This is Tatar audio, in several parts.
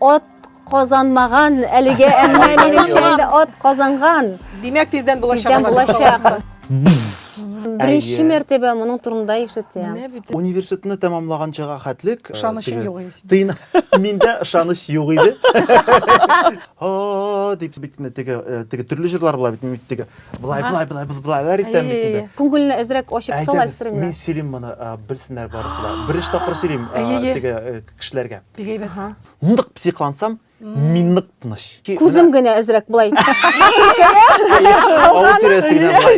От казанмаган әлегә, әмма минемчә инде от казанган. Димәк, тиздән булачак. Тиздән булачак. Беренче мәртәбә моның турында ишетәм. Университетны тәмамлаганчага хәтлек ышанычым юк. Тыйна. Миндә ышаныч юк иде. О, дип бит инде теге э, теге төрле җырлар була бит бит теге. Былай Ага. былай былай былай былайлар итәм бит инде. Күңелне әзрәк ачып сал Әйдәгез, әлсереңме? мин сөйлим моны, э, белсеннәр барысы да. Беренче тапкыр сөйлим э, Әйе, әйе. теге э, кешеләргә. Бик әйбәт. Ага. Нык психлансам, Мин нык тыныч. Күзем генә әзрәк былай. Авыз тирәсе генә былай.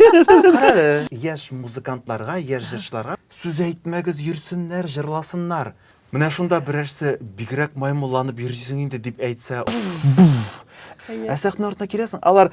Карале, яшь музыкантларга, яшь җырчыларга сүз әйтмәгез, йөрсеннәр, җырласыннар. Менә шунда берәрсе бигрәк маймылланып йөрисең инде дип әйтсә, буф! Ә сәхнә артына киләсең, алар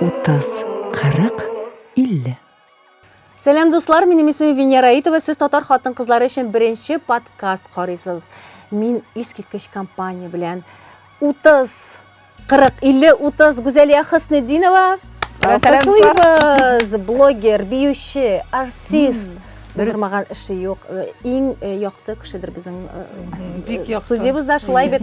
Утыз, кырык, илле. Сәлам дуслар, минем исемем Венера Итова, сез татар хатын-кызлары өчен беренче подкаст карыйсыз. Мин искиткеч компания белән 30 40 50 30 Гүзәлия Хөснетдинова Сәләмсез! Блогер, биюче, артист. Дөрмаган эше юк. Иң якты кешедер безнең студиябездә шулай бит.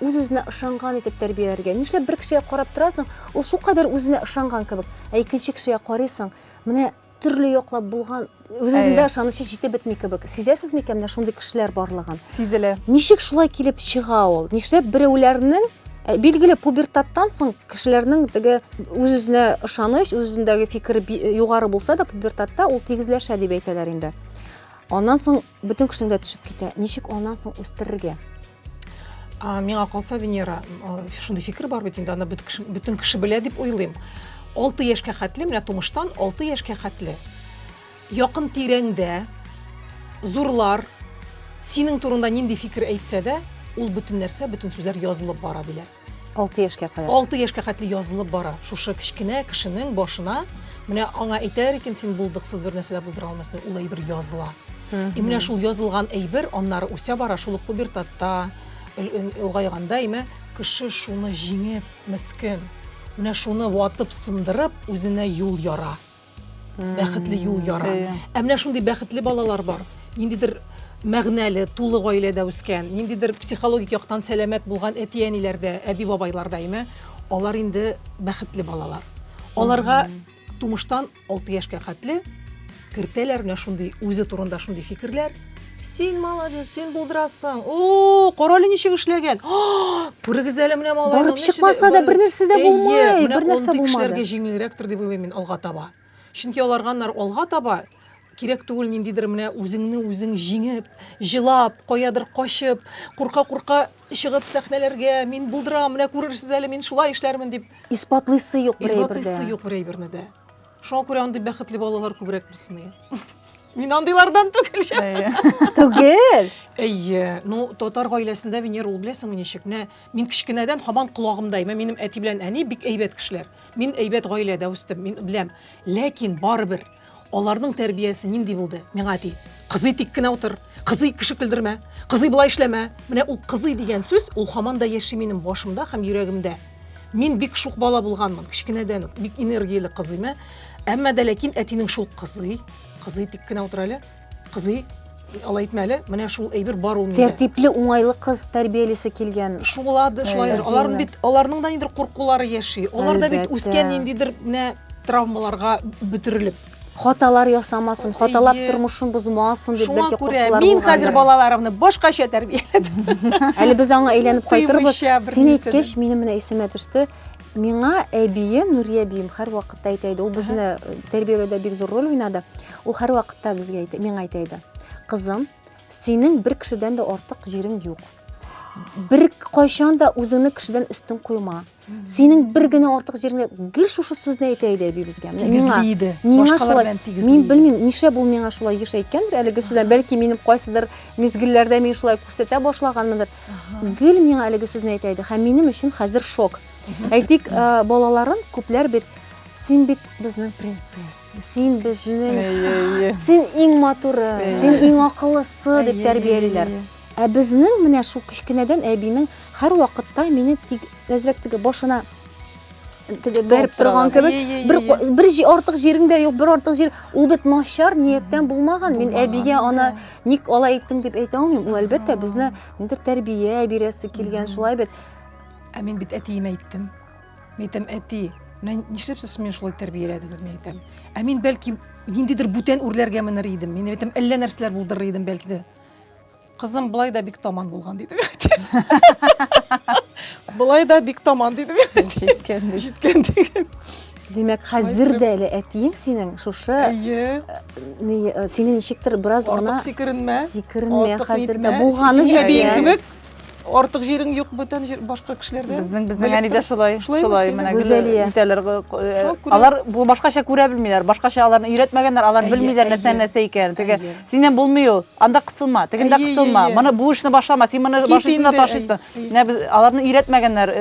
Үз-үзенә ышанган итеп тәрбияләргә. Нишләп бер кешегә карап торасың, ул шулкадәр үзенә ышанган кебек, ә икенче кешегә карыйсың, менә төрле яклап булган, үз-үзендә ышанычы җитеп бетми кебек. Сизәсез микән менә шундый кешеләр барлыгын? Сизелә. Ничек шулай килеп чыга ул? Нишләп берәүләрнең Ә, билгеле, пубертаттан соң кешеләрнең теге үз-үзенә ышаныч, үз-үзендәге фикер югары булса да, пубертатта ул тигезләшә дип әйтәләр инде. Аннан соң Бөтен кешенең дә төшеп китә. Ничек аннан соң үстерергә? Миңа калса, Венера, шундый фикер бар бит инде, аны бөтен кеше белә дип уйлыйм. 6 яшькә хәтле, менә тумыштан 6 яшькә хәтле якын тирәңдә зурлар синең турында нинди фикер әйтсә дә, ул бөтен нәрсә, бөтен сүзләр язылып бара диләр. 6 яшькә кадәр. 6 яшькә хәтле язылып бара. Шушы кечкенә кешенең башына менә аңа әйтәр икән син булдыксыз бер нәрсә дә булдыра алмасын, ул әйбер языла. И менә шул язылган әйбер аннары үсә бара, шул ук пубертатта, олгайганда име кеше шуны җиңеп, мескен, менә шуны ватып, сындырып, үзенә юл яра. бәхетле юл яра. Иә. Ә менә шундый бәхетле балалар бар. Ниндидер мәгънәле, тулы гаиләдә үскән, ниндидер психологик яктан сәламәт булган әти-әниләрдә, әби-бабайларда, әйме, алар инде бәхетле балалар. Аларга тумыштан 6 яшькә хәтле кертәләр менә шундый үзе турында шундый фикерләр, Син молодец, син булдырасың. О, карале ничек эшләгән. Күрегез әле менә малай. Барып чыкмаса да бернәрсә дә булмый, бернәрсә булмады. Кешеләргә җиңелрәктер дип уйлыйм мин алга таба. Чөнки аларганнар алга таба кирәк түгел ниндидер менә үзеңне үзең җиңеп, җылап, каядыр качып, курка-курка чыгып сәхнәләргә, мин булдырам, менә күрерсез әле, мин шулай эшләрмен дип. Исбатлыйсы юк бер әйбердә. Исбатлыйсы юк бер әйберне дә. Шуңа күрә андый бәхетле балалар күбрәк булсын. Мин андыйлардан түгел шәп. Әйе. Түгел. Әйе. Ну, татар гаиләсендә Венера ул беләсеңме ничек? Менә мин кечкенәдән һаман колагымда, әмма минем әти белән әни бик әйбәт кешеләр. Мин әйбәт гаиләдә үстем, мин беләм. Ләкин барыбер аларның тәрбиясе нинди булды? Миңа әти, кызый тик кенә утыр, кызый кеше көлдермә, кызый болай эшләмә. Менә ул кызый дигән сүз, ул һаман да яши минем башымда һәм йөрәгемдә. Мин бик шук бала булганмын, кечкенәдән үк бик энергияле кызыйм. Әмма дә ләкин әтинең шул кызый, кызый тик кенә утыр әле. Кызый алай итмә әле. Менә шул әйбер бар ул миндә. Тәртипле, уңайлы кыз тәрбиялесе килгән. Шулады, шулай. Аларның бит, аларның да нидер куркулары яши. Алар да бит үскән ниндидер менә травмаларга бөтерелеп. хаталар ясамасын, хаталап тормышын бозмасын дип бәлки куркулар булгандыр. Мин хәзер балаларымны башкача тәрбияләдем. Әле без аңа әйләнеп кайтырбыз. Син әйткәч, минем менә исемә төште. Миңа әбием, Нурия әбием һәр вакытта әйтә иде. Ул безне э, тәрбияләүдә бик зур роль уйнады. Ул һәр вакытта безгә әйтә, миңа әйтә иде. Кызым, синең бер кешедән дә артык җирең юк. Бер кайчан да үзеңне кешедән өстен куйма. синең бер генә артык җиреңә гел шушы сүзне әйтә иде әби безгә миңа иде миңа шулай мин белмим нишләп ул миңа шулай еш әйткәндер әлеге сүзне бәлки минем кайсыдыр мизгелләрдә мин шулай күрсәтә башлаганмындыр гел миңа әлеге сүзне әйтә иде һәм минем өчен хәзер шок әйтик э, балаларын күпләр бит син бит безнең принцесса син безнең син иң матуры син иң акыллысы дип тәрбиялиләр Ә безнең менә шул кечкенәдән әбинең һәрвакытта мине тик әзрәк теге башына теге бәреп торган кебек бер бер артык җирең дә юк бер артык җир ул бит начар нияттән булмаган мин әбигә аны ник алай иттең дип әйтә алмыйм ул әлбәттә безне нидер тәрбия бирәсе килгән шулай бит ә мин бит әтиемә әйттем мин әйтәм әти менә нишләп сез мине шулай тәрбияләдегез мин әйтәм ә мин бәлки ниндидер бүтән үрләргә менер идем мин әйтәм әллә нәрсәләр булдырыр идем бәлки дә Кызым былай да бик таман булган диде. Былай да бик таман диде. Җиткән диде. Җиткән диде. Димәк, хәзер дә әле әтиең синең шушы э, э, сине ничектер бераз гына артык сикеренмә. Сикеренмә хәзер дә булганы җиткән. Кебек артык җирең юк бүтән җир башка кешеләрдә безнең безнең әни дә шулай шулай менә гүзәлия итәләр алар бу башкача күрә белмиләр башкача аларны өйрәтмәгәннәр алар белмиләр нәрсә нәрсә икәнен теге синнән булмый ул анда кысылма тегендә кысылма моны бу эшне башлама син моны башлыйсың да ташыйсың менә без аларны өйрәтмәгәннәр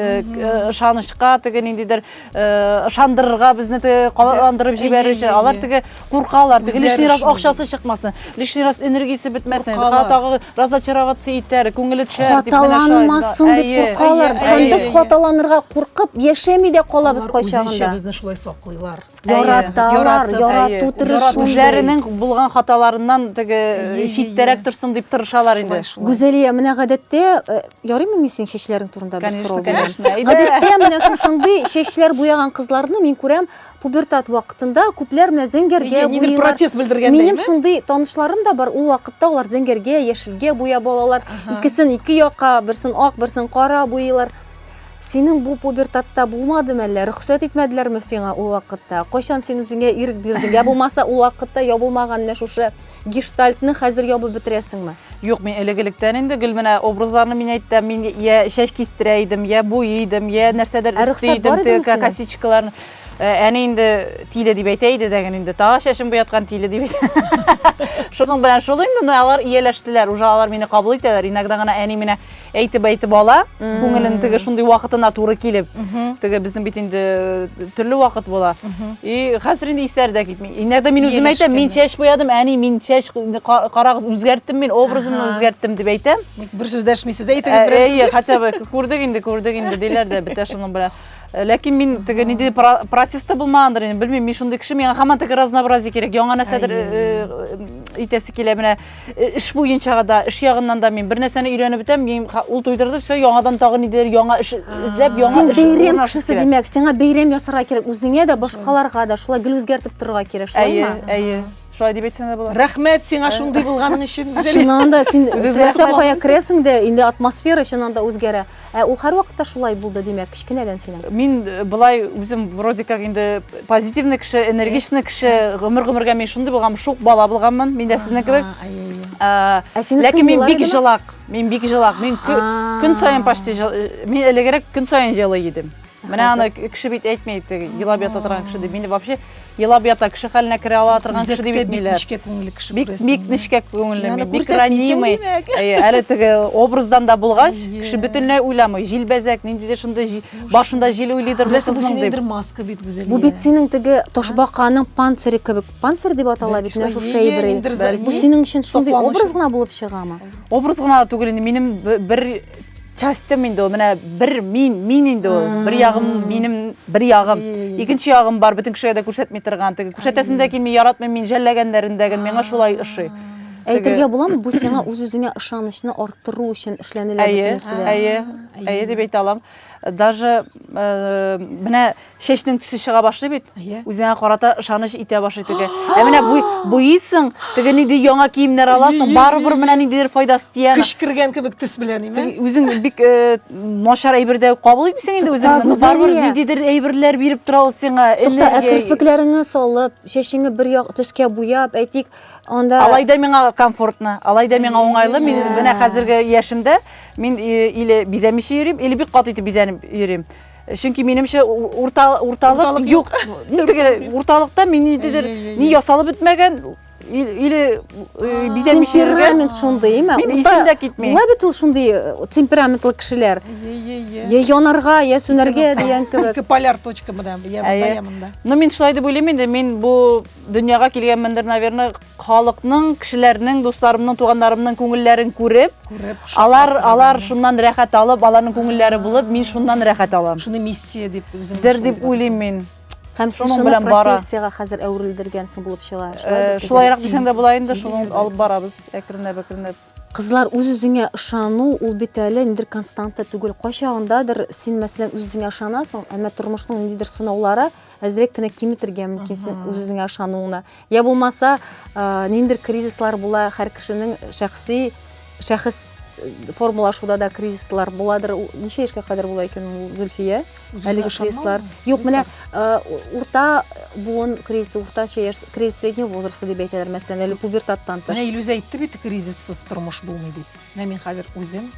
ышанычка теге ниндидер Э, ышандырырга безне теге калаландырып җибәрүче алар теге куркалар теге лишний раз акчасы чыкмасын лишний раз энергиясе бетмәсен тагы разочароваться итәр күңеле төшәр дип хаталанмасын дип куркалар һәм без хаталанырга куркып яшәми дә калабыз кайчагында безне шулай саклыйлар яраталар ярату тырышу үзләренең булган хаталарыннан теге читтәрәк торсын дип тырышалар инде гүзәлия менә гадәттә э, Ярыймы мин синең чәчләрең турында бер сорау бирәм? Гадәттә менә шушындый чәчләр буяган кызларны мин күрәм пубертат вакытында күпләр менә зәңгәргә буялар. Нидер протест белдергәндәй. Минем шундый танышларым да бар, ул вакытта алар зәңгәргә, яшелгә буяп алалар. Икесен ике якка, берсен ак, берсен кара буялар. Синең бу пубертатта булмадымы әллә? Рөхсәт итмәделәрме сиңа ул вакытта? Кайчан син үзеңә ирек бирдең? Я булмаса, ул вакытта ябылмаган менә шушы Гештальтны хәзер ябып бетерәсеңме? Юк, мин элек-электән инде гел менә образларны мин әйтәм, мин я чәч кистерә идем, я буй идем, я нәрсәдер өсти идем, теге косичкаларны. Әни инде тиле дип әйтә иде дәген инде, тагы чәчем буяткан тиле дип әйтә. Шуның белән шул инде, но алар ияләштеләр, уже алар мине кабул итәләр. Иногда гына әни менә әйтеп әйтеп ала күңелен теге шундый вакытына туры килеп теге безнең бит инде э, төрле вакыт була и хәзер инде исләре дә китми иногда мин үзем әйтәм мин чәч буядым әни мин чәч карагыз үзгәрттем мин образымны үзгәрттем дип әйтәм ник бер сүз дәшмисез әйтегез э, берәр сүз хотя бы күрдек инде күрдек инде диләр дә бетә шуның белән Э, ләкин мин теге ниндидер протест та булмагандыр инде белмим мин шундый кеше миңа һаман теге разнообразие кирәк яңа нәрсәдер э, э, итәсе килә менә Эш буенча да, эш ягыннан да мин бер нәрсәне өйрәнеп бетәм, мин ул туйдырды, все, яңадан тагын идер, яңа эш эзләп, яңа Син эш. Син бәйрәм кешесе димәк, сиңа бәйрәм ясарга кирәк, үзеңә дә, башкаларга да шулай гел үзгәртеп торырга кирәк, шулаймы? Әйе, әйе. Шулай дип әйтсәң дә була. Рәхмәт сиңа шундый булганың өчен. Чыннан да син теләсә кая керәсең дә, инде атмосфера чыннан да үзгәрә. Ә ул һәрвакытта шулай булды, димәк, кечкенәдән синең? Мин былай үзем вроде как инде позитивный кеше, энергичный кеше, гомер-гомергә мин шундый булган, шук бала булганмын, мин дә сезнең кебек. Ә, ә синең Ләкин мин бик җылак, мин бик җылак, мин көн саен почти, мин элегрәк көн саен җылый идем. Менә аны кеше бит әйтми, елап ята торган кеше дип. Мине вообще елап ята кеше хәленә керә ала торган кеше дип әйтмиләр. Нечкә күңелле кеше күрәсең. Бик нечкә күңелле, бик ранимый. Әле теге образдан да булгач, кеше бөтенләй уйламый. Җилбәзәк, ниндидер шундый башында җил уйлыйдыр бу кызның дип. маска бит Гүзәлия. Бу бит синең теге ташбаканың панцире кебек. Панцир дип атала бит менә шушы әйбер. Бу синең өчен шундый образ гына булып чыгамы? Образ гына түгел инде, минем бер частем инде ул менә бер мин мин инде ул бер ягым минем бер ягым икенче ягым бар бөтен кешегә дә күрсәтми торган теге күрсәтәсем дә килми яратмыйм мин жәлләгәннәрендә гел миңа шулай ошый Әйтергә буламы, бу сиңа үз-үзеңә ышанычны арттыру өчен эшләнелә бөтенесе дә. Әйе, әйе дип әйтә алам. даже э, менә чәчнең төсе чыга башлый бит иә. үзеңә карата ышаныч итә башлый теге ә менә буйыйсың теге нинди яңа киемнәр аласың барыбер менә ниндидер файдасы тия көч кергән кебек төс белән име үзең бик э, начар әйбер дә кабул итмисең инде үзең барыбер ниндидер әйберләр биреп тора ул сиңа энергия керфекләреңне салып чәчеңне бер як төскә буяп әйтик Анда Алай да миңа комфортно, алай да миңа уңайлы. Мин менә хәзерге яшемдә мин э, или бизәмичә йөрим, или бик каты итеп бизәнеп йөрим. Чөнки минемчә урта урталык юк. Теге урталыкта мин ниндидер ни ясалып бетмәгән или э, бизәмичә йөргән. Темперамент шундый, әмма Мин исем дә китми. Була бит ул шундый э, темпераментлы кешеләр. Я янарга, я сүнәргә дигән кебек. Ике поляр точка монда, я монда, я монда. Но мин шулай дип уйлыйм инде, мин бу Дөньяга килгәнмендер, наверное, халыкның, кешеләрнең, дусларымның, туганнарымның күңелләрен күреп, күреп алар, алар шуннан рәхәт алып, аларның күңелләре булып, мин шуннан рәхәт алам. Шуны миссия дип үзем. Дер дип уйлыйм мин. Һәм сез шуны профессиягә хәзер әверелдергәнсең булып чыга. Шулайрак дисәң дә була инде, шуны алып барабыз әкренләп-әкренләп. Кызлар, үз-үзеңә ышану, ул бит әле ниндидер константа түгел. Кайчагындадыр син, мәсәлән, үз-үзеңә ышанасың, әмма тормышның ниндидер сынаулары әзрәк кенә киметергә мөмкин син үз-үзеңә ышануыңны. Я булмаса, ниндидер кризислар була, һәр кешенең шәхси шәхес формалашуда да кризислар буладыр. Ничә яшькә кадәр була икән ул, Зөлфия? Әлеге кризислар. Юк, менә э, урта буын кризисы, урта яшь кризис среднего возраста дип әйтәләр, мәсәлән, әле пубертаттан тыш. Менә Илюзә әйтте бит, кризиссыз тормыш булмый дип. Менә мин хәзер үзем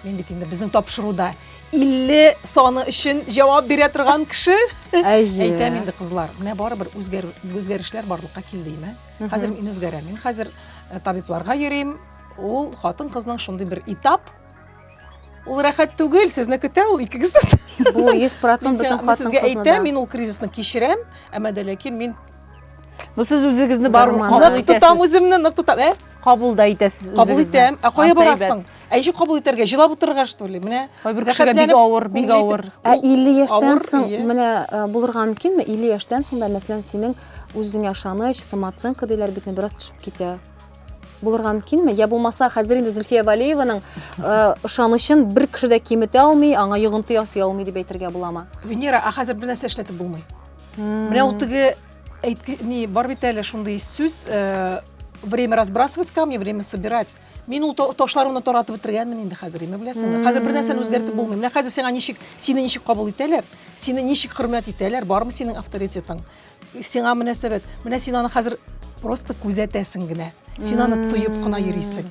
мин бит инде безнең тапшыруда 50 саны өчен җавап бирә торган кеше. Әйе. Әйтәм инде кызлар, менә барыбер үзгәрү үзгәрешләр барлыкка килде име? Хәзер мин үзгәрәм. Мин хәзер э, табибларга йөрим. Ул хатын-кызның шундый бер этап, Ул рәхәт түгел, сезне көтә ул икегез дә. Бу 100% бөтен хатын-кызны. Сезгә әйтәм, мин ул кризисны кичерәм, әмма дә ләкин мин Бу сез үзегезне бармы кабул итәсез? Нык тотам үземне, нык тотам. Ә? Кабул да итәсез үзегезне. Кабул итәм. Ә кая барасың? Ә ничек кабул итәргә? Җылап утырырга что ли? Менә бер кешегә бик авыр, бик авыр. Ә 50 яшьтән соң менә булырга мөмкинме? 50 яшьтән соң да мәсәлән синең үзеңә ышаныч, самооценка диләр бит, бераз төшеп китә. булырга мөмкинме я булмаса хәзер инде зөлфия валееваның ышанычын э, бер кеше дә киметә алмый аңа йогынты ясый алмый дип әйтергә буламы венера а хәзер бер нәрсә эшләтеп булмый менә ул теге әйтке ни бар бит әле шундый сүз э, время разбрасывать камни время собирать мин ул ташларымны таратып бетергәнмен инде хәзер име беләсеңме хәзер бер нәрсәне үзгәртеп булмый менә хәзер сиңа ничек сине ничек кабул итәләр сине ничек хөрмәт итәләр бармы синең авторитетың Сиңа мөнәсәбәт. Менә син аны хәзер просто күзәтәсең генә. Син аны тоеп кына йөрисең.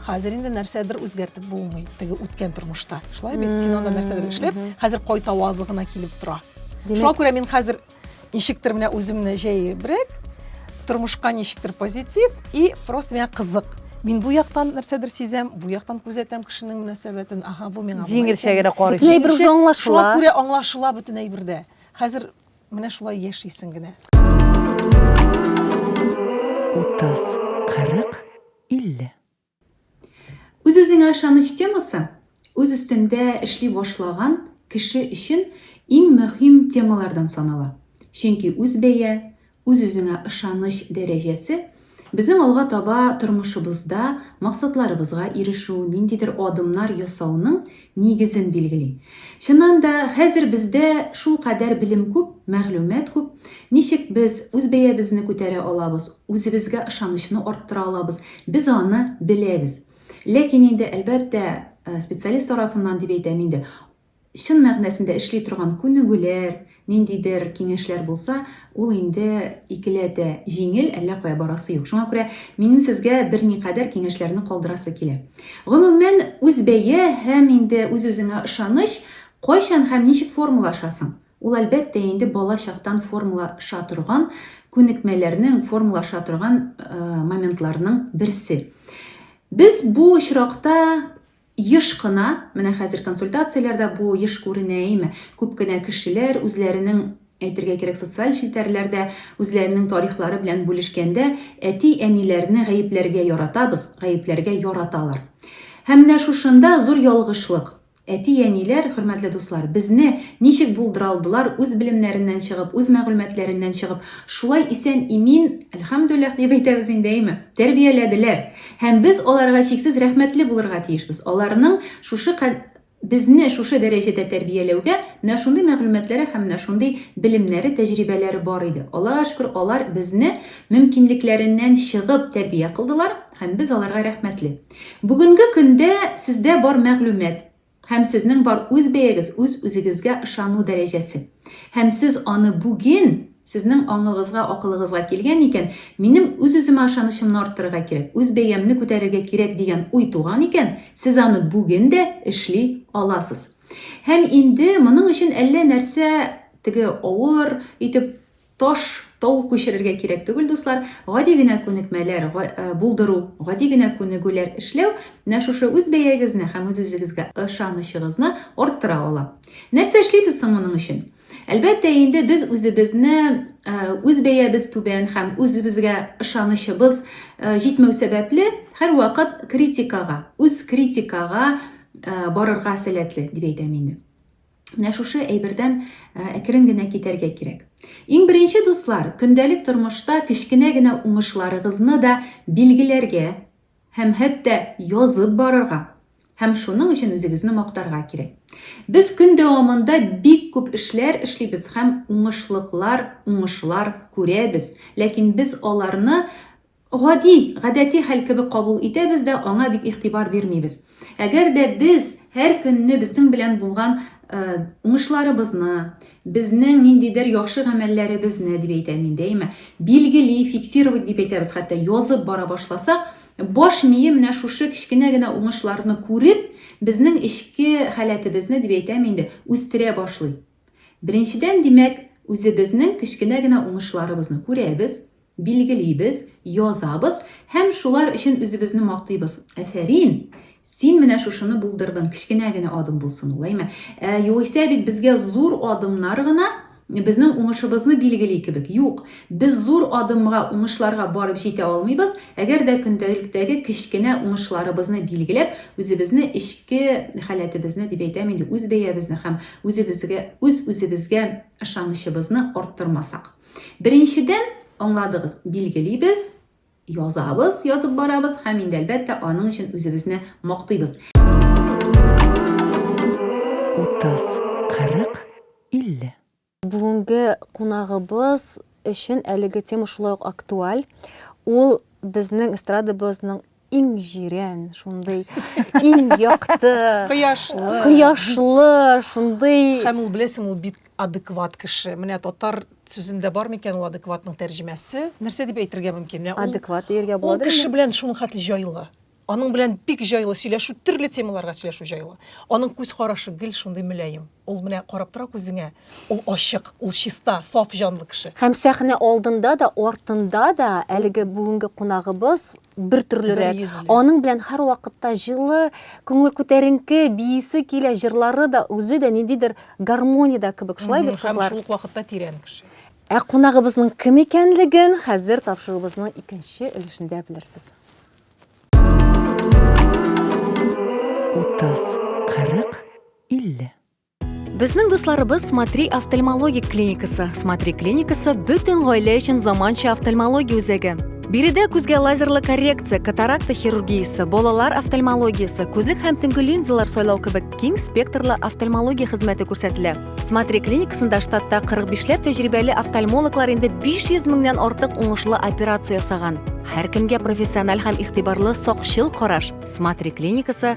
Хәзер инде нәрсәдер үзгәртеп булмый, теге үткән тормышта. Шулай бит, син анда нәрсәдер эшләп, хәзер кайта авазы гына килеп тора. Шуңа күрә мин хәзер ничектер менә үземне җәебрәк, тормышка ничектер позитив и просто миңа кызык. Мин бу яктан нәрсәдер сизәм, бу яктан күзәтәм кешенең мөнәсәбәтен. Ага, бу миңа. Җиңелчә генә карыйсың. Шуңа күрә аңлашыла бөтен әйбер дә. Хәзер Менә шулай яшисең генә. Утыз, кырык, илле. Үз-үзеңә ышаныч темасы үз өстендә эшли башлаган кеше өчен иң мөһим темалардан санала. Чөнки үз бәя, үз-үзеңә ышаныч дәрәҗәсе Безнең алга таба тормышыбызда максатларыбызга ирешү, ниндидер адымнар ясауның нигезен билгели. Чыннан да, хәзер бездә шулкадәр белем күп, мәгълүмат күп. Ничек без үз бәябезне күтәрә алабыз, үзебезгә ышанычны арттыра алабыз, без аны беләбез. Ләкин инде, әлбәттә, специалист тарафыннан дип әйтәм инде, Чын мәгънәсендә эшли торган күнегүләр, ниндидер киңәшләр булса, ул инде икеләтә җиңел, әллә кая барасы юк. Шуңа күрә минем сезгә берникадәр киңәшләрне калдырасы килә. Гомумән, үзбәя һәм инде үз-үзеңә ышаныч, кайчан һәм ничек формалашасың? Ул, әлбәттә, инде бала чактан формалаша торган күнекмәләрнең, формалаша торган моментларның берсе. Без бу очракта Еш кына, менә хәзер консультацияләрдә бу еш күренә, әйеме, күп кенә кешеләр үзләренең, әйтергә кирәк, социаль челтәрләрдә үзләренең тарихлары белән бүлешкәндә, әти-әниләрне гаепләргә яратабыз, гаепләргә яраталар. Һәм менә шушында зур ялгышлык. Әти-әниләр, хөрмәтле дуслар, безне ничек булдыра алдылар, үз белемнәреннән чыгып, үз мәгълүматләреннән чыгып, шулай исән-имин, әлхәмдүлләһ дип әйтәбез инде, әйеме, тәрбияләделәр. Һәм без аларга чиксез рәхмәтле булырга тиешбез, аларның шушы кад безне шушы дәрәҗәдә тәрбияләүгә менә шундый мәгълүматлары һәм менә шундый белемнәре, тәҗрибәләре бар иде. Аллага шөкер, алар безне мөмкинлекләреннән чыгып тәрбия кылдылар һәм без аларга рәхмәтле. Бүгенге көндә сездә бар мәгълүмат, Һәм сезнең бар үз бәягез үз үзегезгә ышану дәрәҗәсе. Һәм сез аны бүген, сезнең аңыгызга, акылыгызга килгән икән, минем үз-үземә ышанычымны арттырырга кирәк, үз бәямне күтәрергә кирәк дигән уй туган икән, сез аны бүген дә эшли аласыз. Һәм инде моның өчен әллә нәрсә, теге авыр итеп, Таш, тау күчерергә кирәк түгел, дуслар. Гади генә күнекмәләр булдыру, гади генә күнегүләр эшләү менә шушы үз бәягезне һәм үз-үзегезгә ышанычыгызны арттыра ала. Нәрсә эшлибез соң моның өчен? Әлбәттә инде без үзебезне үз бәябез түбән һәм үзебезгә ышанычыбыз җитмәү сәбәпле һәрвакыт критикага, үз критикага барырга сәләтле дип әйтәм инде. Менә шушы әйбердән әкрен генә китәргә кирәк. Иң беренче дуслар, көндәлек тормышта кечкенә генә уңышларыгызны да билгеләргә һәм хәтта язып барырга һәм шуның өчен үзегезне мактарга кирәк. Без көн дәвамында бик күп эшләр эшлибез һәм уңышлыклар, уңышлар күрәбез, ләкин без аларны Гади, гадәти хәл кебек кабул итәбез дә аңа бик игътибар бирмибез. Әгәр дә без һәр көнне безнең белән булган уңышларыбызны, безнең ниндидер яхшы гамәлләребезне, дип әйтәм мин дәйма, билгели, фиксировать дип әйтәбез, хәтта язып бара башласак, баш мие менә шушы кечкенә генә уңышларны күреп, безнең эчке халәтебезне, дип әйтәм инде, үстерә башлый. Беренчедән, димәк, үзебезнең кечкенә генә уңышларыбызны күрәбез, Билгелибез, язабыз һәм шулар өчен үзебезне мактыйбыз. Әфәрин! Син менә шушыны булдырдың, кечкенә генә адым булсын ул, әйме? Ә, югыйсә бит безгә зур адымнар гына безнең уңышыбызны билгели кебек. Юк, без зур адымга, уңышларга барып җитә алмыйбыз, әгәр дә көндәлектәге кечкенә уңышларыбызны билгеләп, үзебезне, эчке халәтебезне, дип әйтәм инде, үз бәябезне һәм үзебезгә, үз-үзебезгә ышанычыбызны арттырмасак. Беренчедән, аңладыгыз, билгелибез, язабыз, язып барабыз һәм инде әлбәттә аның өчен үзебезне мактыйбыз. 30, 40, 50. Бүгенге кунагыбыз өчен әлеге тема шулай ук актуаль. Ул безнең эстрадабызның иң җирән, шундый иң якты, кояшлы, кояшлы, шундый. Һәм ул беләсең, ул бик адекват кеше. Менә татар сүзендә бар микән ул адекватның тәрҗемәсе? Нәрсә дип әйтергә мөмкин? Менә адекват диергә була. Ул кеше белән шуның хәтле җайлы. Аның белән бик җайлы сөйләшү, төрле темаларга сөйләшү җайлы. Аның күз карашы гел шундый мөлаем. Ул менә карап тора күзеңә. Ул ачык, ул чиста, саф җанлы кеше. Һәм сәхнә алдында да, артында да әлеге бүгенге кунагыбыз бертөрлерәк. Аның белән һәрвакытта җылы, күңел күтәренке, биисе килә, җырлары да, үзе дә ниндидер гармониядә кебек. Шулай бит, кызлар? Һәм шул ук вакытта тирән кеше. Ә кунагыбызның кем икәнлеген хәзер тапшыруыбызның икенче өлешендә белерсез. Утыз, кырык 50. Безнең дусларыбыз Смотри офтальмологик клиникасы. Смотри клиникасы бөтен гаилә өчен заманча офтальмология үзәге. Биредә күзгә лазерлы коррекция, катаракта хирургиясе, балалар офтальмологиясе, күзлек һәм төнге линзалар сайлау кебек киң спектрлы офтальмология хезмәте күрсәтелә. Смотри клиникасында штатта 45ләп тәҗрибәле офтальмологлар инде 500 меңнән артык уңышлы операция ясаган. Һәркемгә профессиональ һәм игътибарлы сакчыл караш. Смотри клиникасы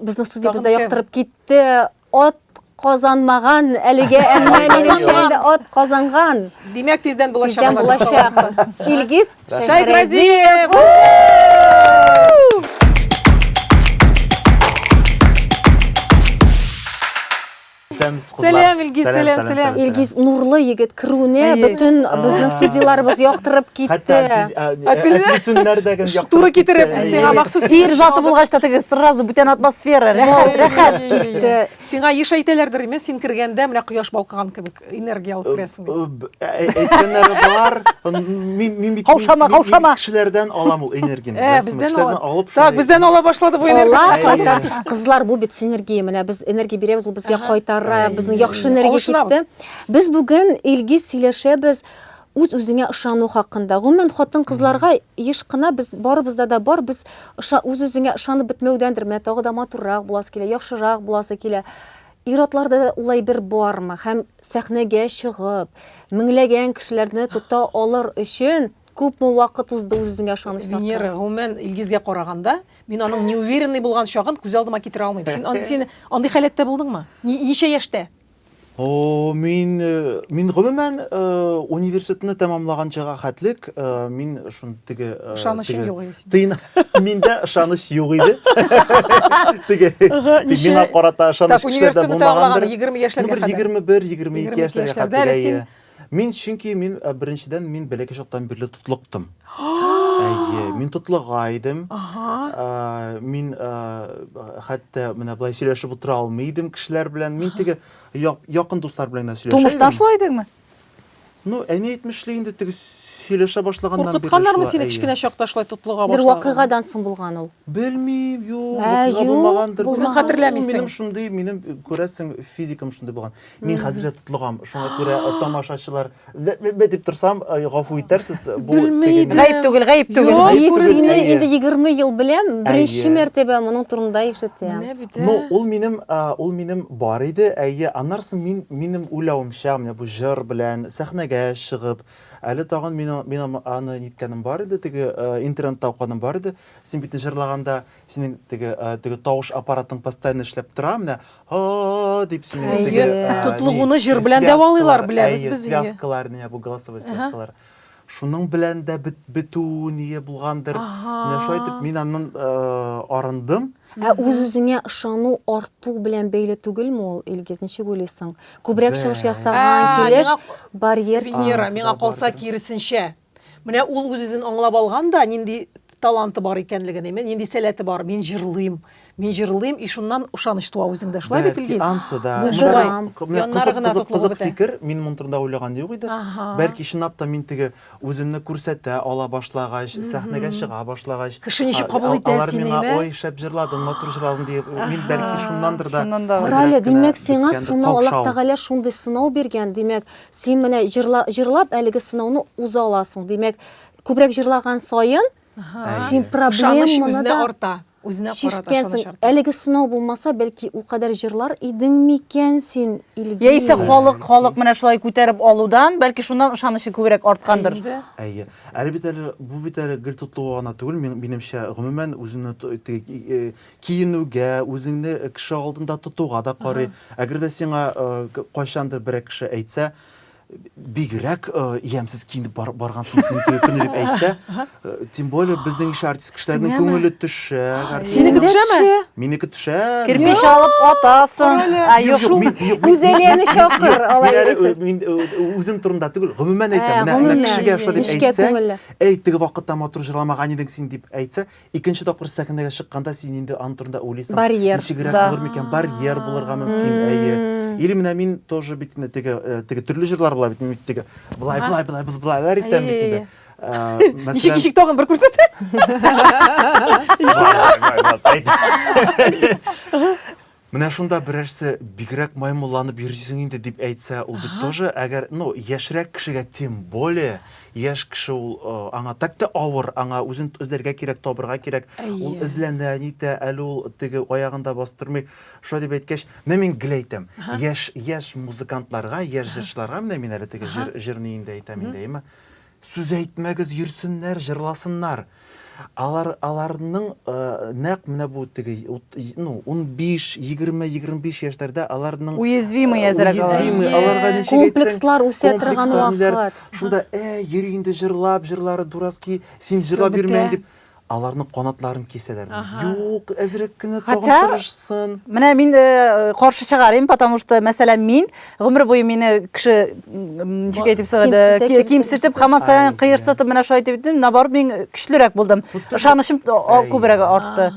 Безнең студиябездә яктырып китте. Ат казанмаган әлегә, әмма минем шәһәрдә ат казанган. Димәк, тиздән булачак. Тиздән булачак. Илгиз Шәйхразиев. Исәнмесез, кызлар. Сәлам, Илгиз, сәлам, сәлам. Илгиз нурлы егет керүне бөтен безнең студияләребез яктырып китте. Әфисүннәрдәген яктырып. Туры китереп, сиңа махсус сер заты булгач та теге сразу бүтән атмосфера, рәхәт, рәхәт китте. Сиңа еш әйтәләрдер, имеш, син кергәндә менә кояш балкыган кебек энергия алып керәсең. әйткәннәре бар мин мин бит каушама каушама кешеләрдән алам ул энергияне э, бездән алып так бездән ала башлады бу энергия кызлар бу бит синергия менә без энергия бирәбез ул безгә кайтара безнең яхшы энергия китте без бүген илгиз сөйләшәбез үз үзеңә ышану хакында гомумән хатын кызларга еш кына без барыбызда да бар без үз үзеңә ышанып бетмәүдәндер менә тагы да матуррак буласы килә яхшырак буласы килә Ир-атларда да ул әйбер бармы һәм сәхнәгә чыгып, меңләгән кешеләрне тота алыр өчен күпме вакыт узды үз-үзеңә ышаныч тапкан? Венера, гомумән, Илгизгә караганда, мин аның неуверенный булган чагын күз алдыма китерә алмыйм. Син ан, син андый халәттә булдыңмы? Ни, ничә яшьтә? О-о, мин, мин гомумән, университетны тәмамлаганчыга хәтлек, мин шун теге, теге. Ышанычың юк иде синең. Тыйна. Миндә ышаныч юк иде. Теге. Миңа карата ышаныч кешеләрдә булмагандыр. 20 яшьләргә хәтле. 21, 22 яшьләргә хәтле. Мин чөнки мин э, беренчедән мин бәләкәй чактан бирле тотлыктым. Әйе, мин тотлыга идем. Э, мин э, хәтта менә былай сөйләшеп утыра алмый идем кешеләр белән. Мин теге якын дуслар белән генә сөйләшә идем. Тумыштан шулай идеңме? Ну, әни әйтмешли инде теге сөйләшә башлаганнан бирле Куркытканнармы сине кечкенә чакта шулай тотлыга башларга? Бер вакыйгадан соң булган ул. Белмим, юк, вакыйга булмагандыр. Үзең хәтерләмисең. Минем шундый, минем күрәсең, физикам шундый булган. Мин хәзер дә тотлыгам. Шуңа күрә тамашачылар бе-бе-бе дип торсам, гафу итәрсез. Бу тегене. Гаеп түгел, гаеп түгел. Мин сине инде 20 ел беләм, беренче мәртәбә моның турында ишетәм. Ну, ул минем, ул минем Бар иде, әйе, аннары соң мин, минем уйлавымча, менә бу җыр белән сәхнәгә чыгып, әле тагын мин, мин аны ниткәнем бар иде, теге интернетта укыганым бар иде, син бит җырлаганда, синең теге, теге тавыш аппаратың постоянно эшләп тора, менә һа-а-а дип синең теге, ни, связкалар, әйе, связкалар, менә бу голосовой связкалар. Шуның белән дә бетү ние булгандыр. Менә шулай итеп мин аннан арындым. Ә үз-үзеңә ышану арту белән бәйле түгелме ул, Илгиз, ничек уйлыйсың? Күбрәк чыгыш ясаган килеш барьер Венера, миңа калса киресенчә. Менә ул үз-үзен аңлап алган да, нинди таланты бар икәнлеген, нинди сәләте бар. Мин җырлыйм, Мин җырлыйм, и шуннан ышаныч туа үзеңдә. Шулай бит, Илгиз? Бәлки ансы да. Мин Шулай. торам. Менә Яннары кызык, гына кызык, тотлыгып кызык бетә. фикер. Мин моны турында уйлаган юк иде. Аһа. Бәлки чынлап та мин теге үземне күрсәтә ала башлагач, сәхнәгә чыга башлагач, Кеше ничек а- кабул а- итә алар сине, миңа, әйме? ой, шәп җырладың, матур җырладың, диеп, мин бәлки шуннандыр да. Шуннан да. Кара әле, әзрәк кенә димәк, сиңа беткәндер, сынау, Аллаһ каушау. Тәгалә шундый сынау биргән, димәк, син менә җырла, җырлап әлеге сынауны уза аласың. Димәк, күбрәк җырлаган саен, Әйе. син Ышаныч проблеманы үзенә да арта. Үзенә карата ышаныч Шиштәнсең. арта. Әлеге сынау булмаса, бәлки, ул кадәр җырлар идең микән син, Илгиз? Яисә халык, халык менә шулай күтәреп алудан, бәлки шуннан ышанычы күбрәк арткандыр. Инде. Әйе. Әле бит әле, бу бит әле гел тотлыгуга гына түгел, мин, минемчә, гомумән үзеңне то- теге ки- э, киенүгә, үзеңне кеше алдында тотуга да карый. Әгәр дә сиңа, э, к- кайчандыр берәр кеше әйтсә, бигрәк э, ямьсез киенеп бар, баргансың синең туе көне дип әйтсә э, тем более безнең ише артист кешеләрнең Сеңәме? күңеле төшә Синеке төшәме? минеке төшә Кирпич алып атасың. Ә юк, Юк, мин- юк, мин- Гүзәлияне мин- чакыр, мин- алай мин әле, әйтсәң. э, мин, э, үзем турында түгел гомумән Ә, әйтәм менә- менә гомумән, кешегә шулай дип нечкә әйтсә күңелле. әй теге вакытта матур җырламаган идең син дип әйтсә Икенче тапкыр сәхнәгә чыкканда син инде аның турында уйлыйсың. Барьер. Ничегрәк булыр микән? Барьер булырга мөмкин, әйе. Или менә мин тоже бит инде теге э, теге төрле җырлар була бит инде бит теге. Былай, былай, былай, былай, былайлар итәм бит инде. Э, Ничек мәсәлән, ничек тагын бер күрсәт. былай, былай, былай, былай. Менә шунда берәрсе бигрәк маймылланып йөрисең инде дип әйтсә, ул бит тоже, әгәр, ну, яшьрәк кешегә, тем более, яшь кеше ул, аңа так та авыр, аңа үзен эзләргә кирәк, табырга кирәк, ул эзләнә, нитә, әле ул теге аягын да бастырмый. Шулай дип әйткәч, менә мин гел әйтәм, яшь, яшь музыкантларга, яшь җырчыларга, менә мин әле теге җыр, җырны инде әйтәм инде, әйеме, Сүз әйтмәгез, йөрсеннәр, җырласыннар. Алар, аларның нәкъ менә бу теге, ну, унбиш, егерме, егерме биш яшьләрдә аларның Уязвимый әзрәк алар. Уязвимый, Әйе. аларга ничек әйтсәң, Комплекслар үсә торган комплекслар, ниләр. вакыт. Шунда, әй, йөри инде җырлап, җырлары дурацки, син Всё җырлап бетә. йөрмә инде. Аларның канатларын кисәләрме? Юк, әзрәк кенә тагын тырышсын. Менә мин каршы чыгарыйм, потому что, мәсәлән, мин гомер буе мине кеше ничек әйтеп сыгыды, кимсетеп, хаман саен кыерсытып менә шулай итеп, наоборот, мин көчлерәк булдым. Ышанычым күбрәк артты.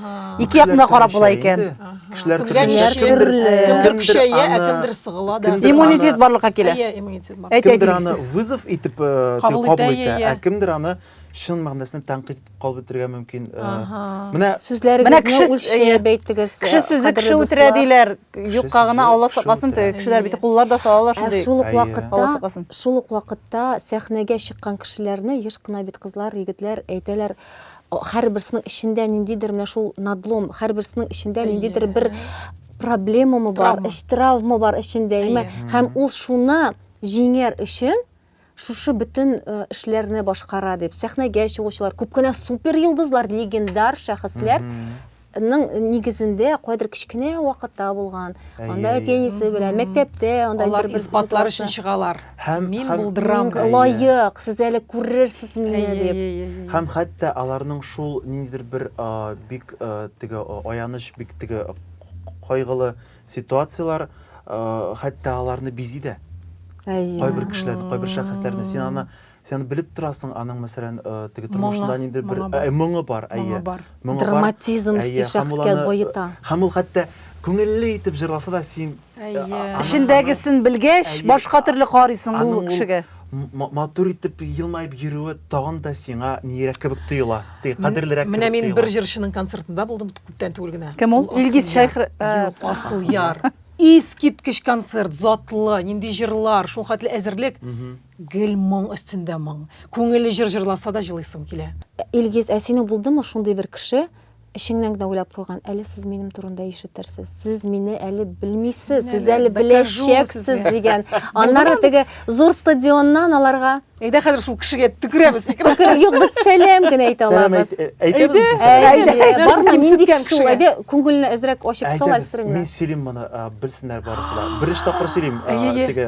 Ике якны карап була икән. Кешеләр кемдер көчәя, ә кемдер сыгыла да. Иммунитет барлыкка килә. Әйт, әйт. Кемдер аны вызов итеп кабул итә, ә кемдер аны чын мәгънәсендә тәнкыйть итеп кабул итәргә мөмкин. Менә сүзләрегезне үлчәп әйтегез. Кеше сүзе кеше үтерә диләр. Юкка гына Алла сакласын, теге кешеләр бит куллар да салалар шундый. Шул ук вакытта, шул ук вакытта сәхнәгә чыккан кешеләрне еш кына бит кызлар, егетләр әйтәләр, һәрберсенең эчендә ниндидер менә шул надлом, һәрберсенең эчендә ниндидер бер проблемамы бар, эч травма бар эчендә, һәм ул шуны җиңәр өчен Шушы бөтен эшләрне башкара дип, сәхнәгә чыгучылар, күп кенә суперйолдызлар, легендар шәхесләр ның нигезендә кайдыр кечкенә вакытта булган анда әти әнисе белән мәктәптә анда алар исбатлар өчен чыгалар һәм мин булдырам лаек сез әле күрерсез мине дип һәм хәтта аларның шул ниндидер бер бик теге аяныч бик теге кайгылы Ситуацияләр хәтта аларны бизи дә. Кайбер кешеләрне, кайбер шәхесләрне син аны сен белеп торасың, аның мәсәлән теге тормышында нинди бер моңы бар, әйе. Драматизм өсти шәхескә баета. Һәм ул хәтта күңелле итеп җырласа да син эчендәгесен белгәч, башка төрле карыйсың ул кешегә. матур итеп елмаеп йөрүе тагын да сиңа ниерәк кебек тоела ди кадерлерәк менә мин бер җырчының концертында булдым күптән түгел генә кем ул илгиз шайх э, асыл яр искиткеч концерт затлы нинди җырлар шул хәтле әзерлек гел моң өстендә моң күңелле җыр җырласа да җылыйсың килә илгиз ә синең булдымы шундый бер кеше Эчеңнән генә уйлап куйган, әле сез минем турында ишетерсез. Сез мине әле белмисез, сез әле беләчәксез дигән. Аннары теге зур стадионнан аларга Әйдә хәзер шул кешегә төкерәбез. Юк, без сәлам генә әйтә алабыз. Әйтәбез. Барма, нинди кеше ул? Әйдә, күңелне әзрәк ачып сал әлсереңме? Мин сөйлим моны, белсеннәр барысы да. Беренче тапкыр сөйлим. Теге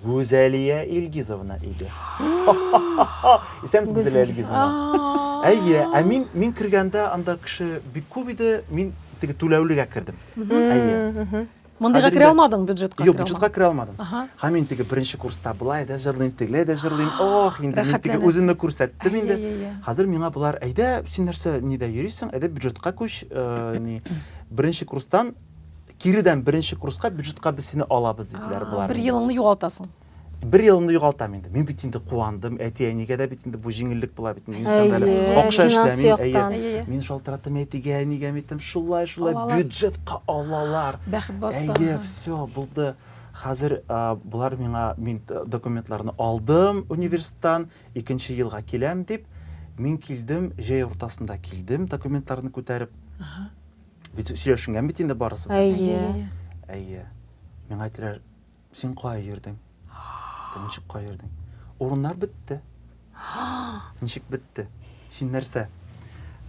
Гүзәлия Илгизовна иде. Исәнмесез, Гүзәлия Илгизовна. Әйе, ә мин мин кергәндә анда кеше бик күп иде, мин теге түләүлегә кердем. Әйе. Мондыйга керә алмадың бюджетка? Юк, бюджетка керә алмадым. Һәм мин теге беренче курста былай да җырлыйм, тегеләй дә җырлыйм. Ох, инде мин теге үземне күрсәттем инде. Хәзер миңа болар, әйдә, син нәрсә, нидә йөрисең, әйдә бюджетка күч, ни, беренче курстан киредән беренче курска бюджетка без сине алабыз диделәр болар бер елыңны югалтасың бер елымны югалтам инде мин бит инде куандым әти әнигә дә бит инде бу җиңеллек була бит инде акча эшләмим әйе мин шалтыраттым әтигә әнигә мин әйттем шулай шулай бюджетка алалар бәхет басты әйе все булды хәзер болар миңа мин документларны алдым университеттан икенче елга киләм дип мин килдем җәй уртасында килдем документларны күтәреп Бит сөйләшенгән бит инде барысы да. Әйе. Әйе. Миңа әйтеләр, син кая йөрдең? Тем ничек кая йөрдең? Урыннар бетте. Ничек бетте? Син нәрсә?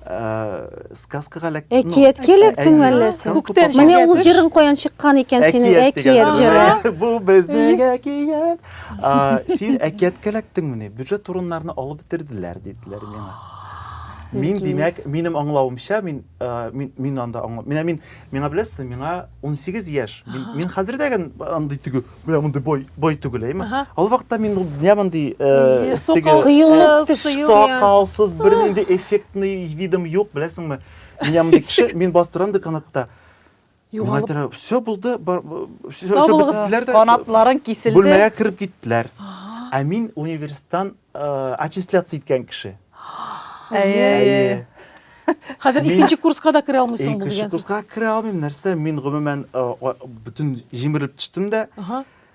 Э, сказкага эләк әкият келектең әллә син менә ул җырың каян чыккан икән синең әкият җыры бу безнең әкият син әкияткә эләктеңмени бюджет турыннарны алып бетерделәр диделәр миңа мин димәк минем аңлавымча мин Э, мин мин анда аңлап менә мин миңа беләсезме миңа 18 яшь мин, мин хәзер дә гән андый түгел менә мондый бой бой түгел әйме ал вакытта мин менә мондый э, сакалсыз бернинди эффектный видом юк беләсеңме менә мондый кеше мин бастырам деканатта Югалып. Миңа все булды, все бетләр дә. Канатларың киселде. Бүлмәгә кереп киттеләр. Ә мин университеттан аттестация иткән кеше. Әйе. Хәзер икенче курска да керә алмыйсың бу дигән сүз. Икенче курска керә алмыйм, нәрсә? Мин гомумән бөтен җимерелеп төштем дә.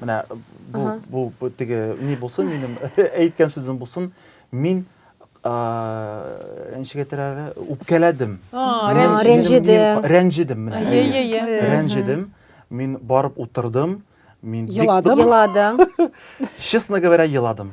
Менә бу, бу, бу теге ни булсын, минем әйткән сүзем булсын. Мин ничек әйтәләр, үпкәләдем. Рәнҗедем. Рәнҗедем менә. Рәнҗедем. Мин барып утырдым. Мин еладым. Еладым. Честно говоря, еладым.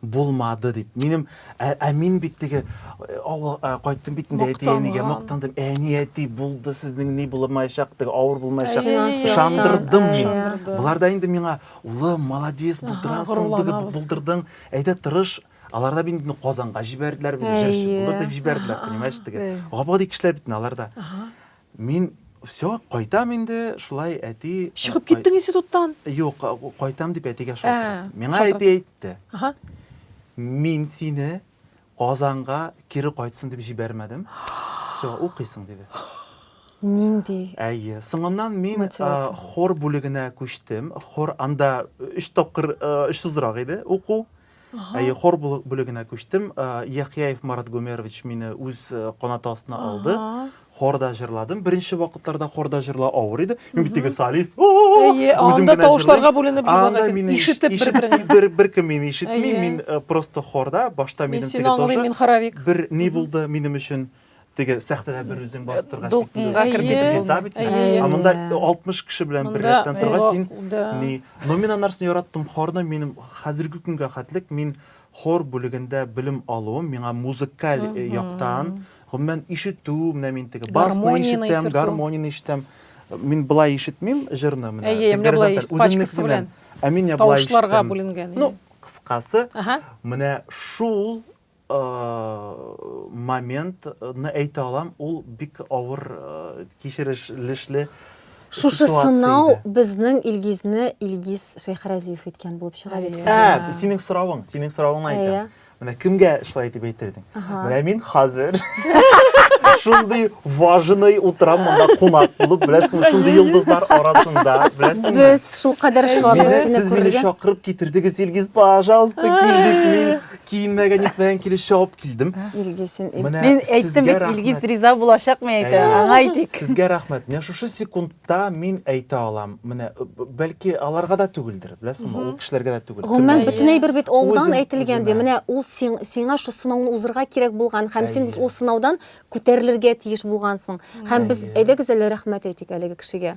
Булмады, дип. Минем, ә, ә мин бит теге э, авыл э, кайттым бит инде әти-әнигә мактандым. Әни, әти, булды сезнең ни булмаячак, теге авыр булмаячак. Ышандырдым мин. Болар да инде миңа, улым, молодец, булдырасың, теге булдырдың. Әйдә тырыш, алар да бит Казанга җибәрделәр, бит җырчы булыр дип җибәрделәр, понимаешь, теге. Габади кешеләр бит алар да. Мин, все, кайтам инде, шулай әти. Чыгып киттең институттан? Юк, кайтам дип әтигә шалтыраттым. Миңа әти әйтте. Мин сине Казанга кире кайтсын дип җибәрмәдем. Все, укыйсың, диде. Нинди? Әйе. Соңыннан мин хор бүлегенә күчтем. Хор анда өч тапкыр очсызрак иде уку. Ага. Әйе, хор бүлегенә күчтем. Яхияев Марат Гомерович мине үз канаты астына алды. Хорда җырладым. Беренче вакытларда хорда җырла авыр иде. Мин бит теге солист. Әйе, анда тавышларга бүленеп җырлаган. Мин ишетеп бер-бер бер кем мине ишетми. Мин просто хорда башта минем теге тоже. Мин сине аңлыйм, мин хоровик. Бер ни булды минем өчен? теге сәхтәдә бер үзең басып торгач дулкынга кереп китеп звезда бит ә монда алтмыш кеше белән бер рәттән торгач син ни но мин анарсын яраттым хорны минем хәзерге көнгә хәтлек мин хор бүлегендә белем алуым миңа музыкаль э, яктан гомумән ишетү менә мин теге басны ишетәм гармонияны ишетәм мин былай ишетмим җырны менә әйе менә былай пачкасы белән ә мин я былай ишетәм ну кыскасы менә шул момент ны әйтә алам, ул бик авыр кичерешлешле Шушы сынау безнең Илгизне Илгиз Шәйхрәзиев иткән булып чыга бит. Ә, синең соравың, синең соравыңны әйтәм. Менә кемгә шулай итеп әйтердең? Менә мин хәзер шундый важный утырам монда кунак булып, беләсең, шундый йолдызлар арасында, беләсең. Без шул кадәр шатбыз сине күрергә. Сез мине чакырып китердегез, Илгиз, пожалуйста, кил дип мин Киенмәгән, нитмәгән килеш чабып килдем. Илгизен, Ил- Менә Мин әйттем сезгә бит, рәхмәт. Илгиз риза булачак мин әйтә. Әйе. Аңа әйтик. Сезгә рәхмәт. Менә шушы секундта мин әйтә алам. Менә э, б- бәлки аларга да түгелдер, беләсеңме? Ул кешеләргә дә түгел. Гомумән, Кемгә? бөтен әйбер бит алдан Үзем- әйтелгән, ди. үземә. Менә ул син, сиңа шул сынауны узырга кирәк булган һәм син Әйе. ул сынаудан күтәрелергә тиеш булгансың. Һәм без Әйе. әйдәгез әле рәхмәт әйтик әлеге кешегә.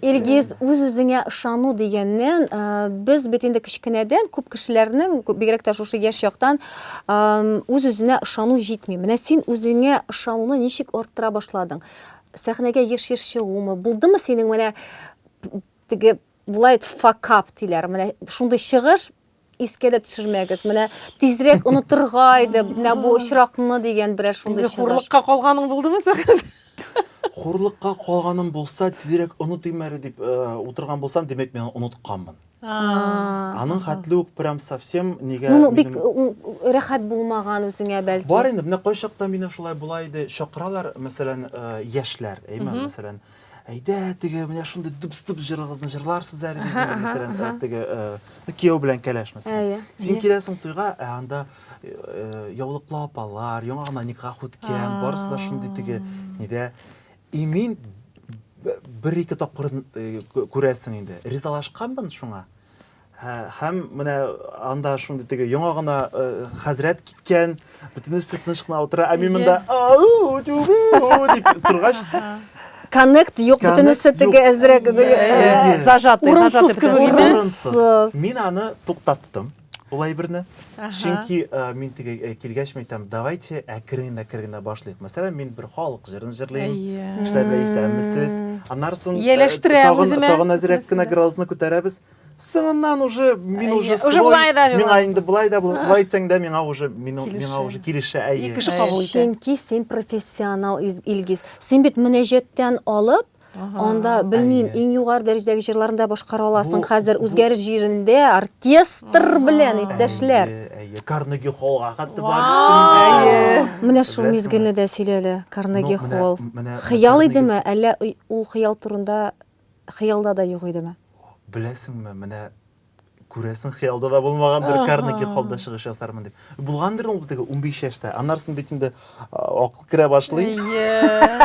Илгиз, үз-үзеңә ышану дигәннән, без бит инде кечкенәдән күп кешеләрнең, бигрәк тә шушы яшь чактан үз-үзенә ышану җитми. Менә син үзеңә ышануны ничек арттыра башладың? Сәхнәгә еш-еш чыгумы? Булдымы синең менә теге булай факап диләр, менә шундый чыгыш, искә дә төшермәгез. Менә тизрәк онытырга иде, менә бу очракны дигән берәр шундый чыгыш. Хурлыкка калганың булдымы сәхәт? Хурлыкка калганым булса, тизрәк онытыйм әле дип э, утырган булсам, димәк мин онытканмын. Аның хәтле үк прям совсем нигә Ну, бик минем- рәхәт булмаган үзеңә бәлки. Бар инде, менә кайчакта минем шулай була иде, чакыралар, мәсәлән, э, яшьләр, әйме, мәсәлән, әйдә теге менә шундый дубс дубс җырыгызны җырларсыз әле диде мин мәсәлән ә, теге ә, кияү белән кәләш мәсәлән Әйе. син киләсең туйга ә анда ә, яулыклы апалар яңа гына никах үткән барысы да шундый теге нидә и мин б- бер ике тапкыр э, кү- күрәсең инде ризалашканмын шуңа Һәм менә анда шундый теге яңа гына хәзрәт киткән, бөтенесе тыныч кына утыра, ә мин монда дип торгач, коннект юк, бөтенесе теге әзрәк зажатый, урынсыз кебек. Мин аны туктаттым. Ул әйберне. Чөнки мин теге килгәч мин әйтәм, давайте әкрен әкрен башлыйк. Мәсәлән, мин бер халык җырын җырлыйм. Эшләп әйсәмесез. Аннары соң тагын әзрәк кенә градусны күтәрәбез. соңыннан уже мин э, уже уже былай да миңа инде былай да былай дисәң дә миңа уже миңа уже килешә әйе ике кеше кабул итә чөнки син профессионал илгиз син бит мөнәҗәттән алып анда белмим иң югары дәрәҗәдәге җырларны да башкара аласың хәзер үзгәр җирендә оркестр белән иптәшләр карнеги холлга хәтта барып менә шул мизгелне дә сөйлә әле карнеги холл хыял идеме әллә ул хыял турында хыялда да юк идеме? Беләсеңме, менә күрәсең, хыялда да булмагандыр, Карнеги холлда чыгыш ясармын дип. Булгандыр ул теге 15 яшьтә. Аннары соң бит инде акыл керә башлый.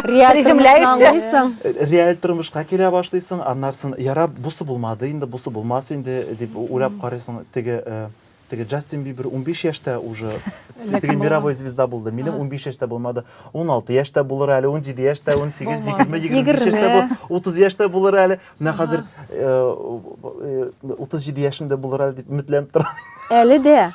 Реаль тормышның Реаль тормышка килә башлыйсың, аннары соң ярап, бусы булмады инде, бусы булмас инде дип уйлап карыйсың. Теге Теге Джастин Бибер унбиш яшьтә уже теге мировой звезда булды. Минем унбиш яшьтә булмады. Уналты яшьтә булыр әле, унҗиде яшьтә, унсигез, егерме, егерме биш яшьтә булыр, утыз яшьтә булыр әле. Менә хәзер утыз җиде яшемдә булыр әле дип өметләнеп торам. Әле дә.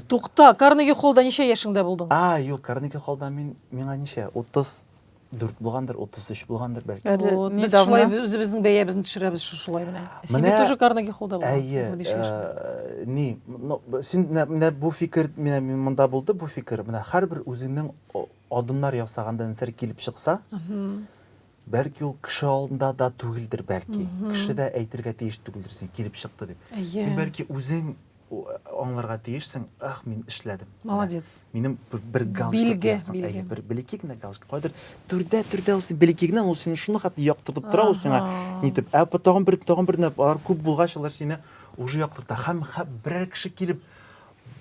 Тукта, Карнеги холлда ничә яшеңдә булдың? А, юк, Карнеги холлда мин миңа ничә? Утыз дүрт булгандыр утыз өч булгандыр бәлки Әле Вот, без недавно. шулай үзебезнең бәябезне төшерәбез шу- шулай менә син Менә- бит тоже карнеги холлда әйе булгансың биш яшьлек э, ни ну, б- син менә- менә бу фикер менә мин монда булды бу фикер менә һәрбер үзеңнең о- адымнар ясаганда нәрсәләр килеп чыкса Мгм. бәлки ул кеше алдында да түгелдер бәлки Мгм. кеше дә әйтергә тиеш түгелдер син килеп чыкты дип Әйе. син бәлки үзең аңларга тиешсең, ах, мин эшләдем. Молодец. Минем бер галстук. Билге, бер белеки генә галстук. Кадер түрдә, түрдә ул син белеки генә, ул сине шуны хәтта яктыртып тора ул сиңа. Нитеп, ә тагын бер, тагын бер алар күп булгач, алар сине уже яктырта. Һәм берәр кеше килеп,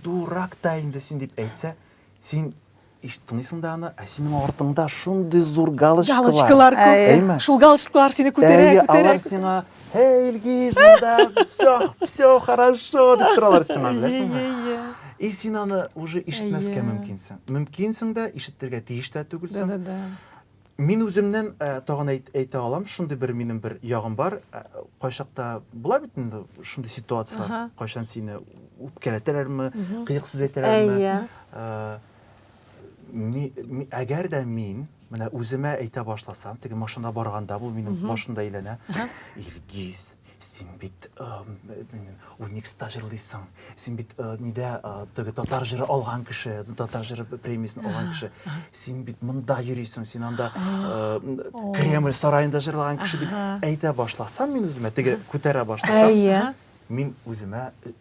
дурак та инде син дип әйтсә, Син ишет тыңлыйсың да аны, ә синең артыңда шундый зур галочкалар. Галочкалар күп. Әйме? Шул галочкалар сине күтәрә, Әйе, күтәрә. алар сиңа, «Эй, Илгиз, монда все, все хорошо» дип торалар сиңа, беләсеңме? Әйе, И син аны уже ишетмәскә мөмкинсең. Мөмкинсең дә, ишетергә тиеш тә түгелсең. Да-да-да. Мин үземнән тагын әйтә алам, шундый бер минем бер ягым бар. Кайчакта була бит инде шундый ситуацияләр, кайчан сине үпкәләтәләрме, кыек сүз әйтәләрме. Әгәр дә мин менә үземә әйтә башласам, теге машинада барганда бу минем башымда әйләнә. Илгиз, Син бит Уникста җырлыйсың. Син бит нидә теге татар җыры алган кеше, татар җыры премиясен алган кеше. Син бит монда йөрисең, син анда Кремль сараенда җырлаган кеше дип әйтә башласам мин үземә, теге күтәрә башласам. Әйе. Мин үземә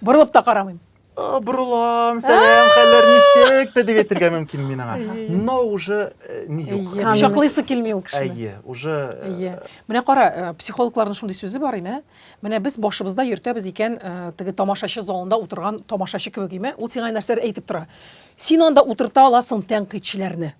Борылып та карамыйм. Борылам, сәлам, хәлләр ничек? дип әйтергә мөмкин мин аңа. Но уже э, ни юк. Кочаклыйсы килми ул кешене. Әйе, уже Әйе. Э, Менә кара, э, психологларның шундый сүзе бар име? Менә без башыбызда йөртәбез икән, теге тамашачы залында утырган тамашачы кебек име? Ул сиңа нәрсәләр әйтеп тора. Син анда утырта аласың тәнкыйтьчеләрне.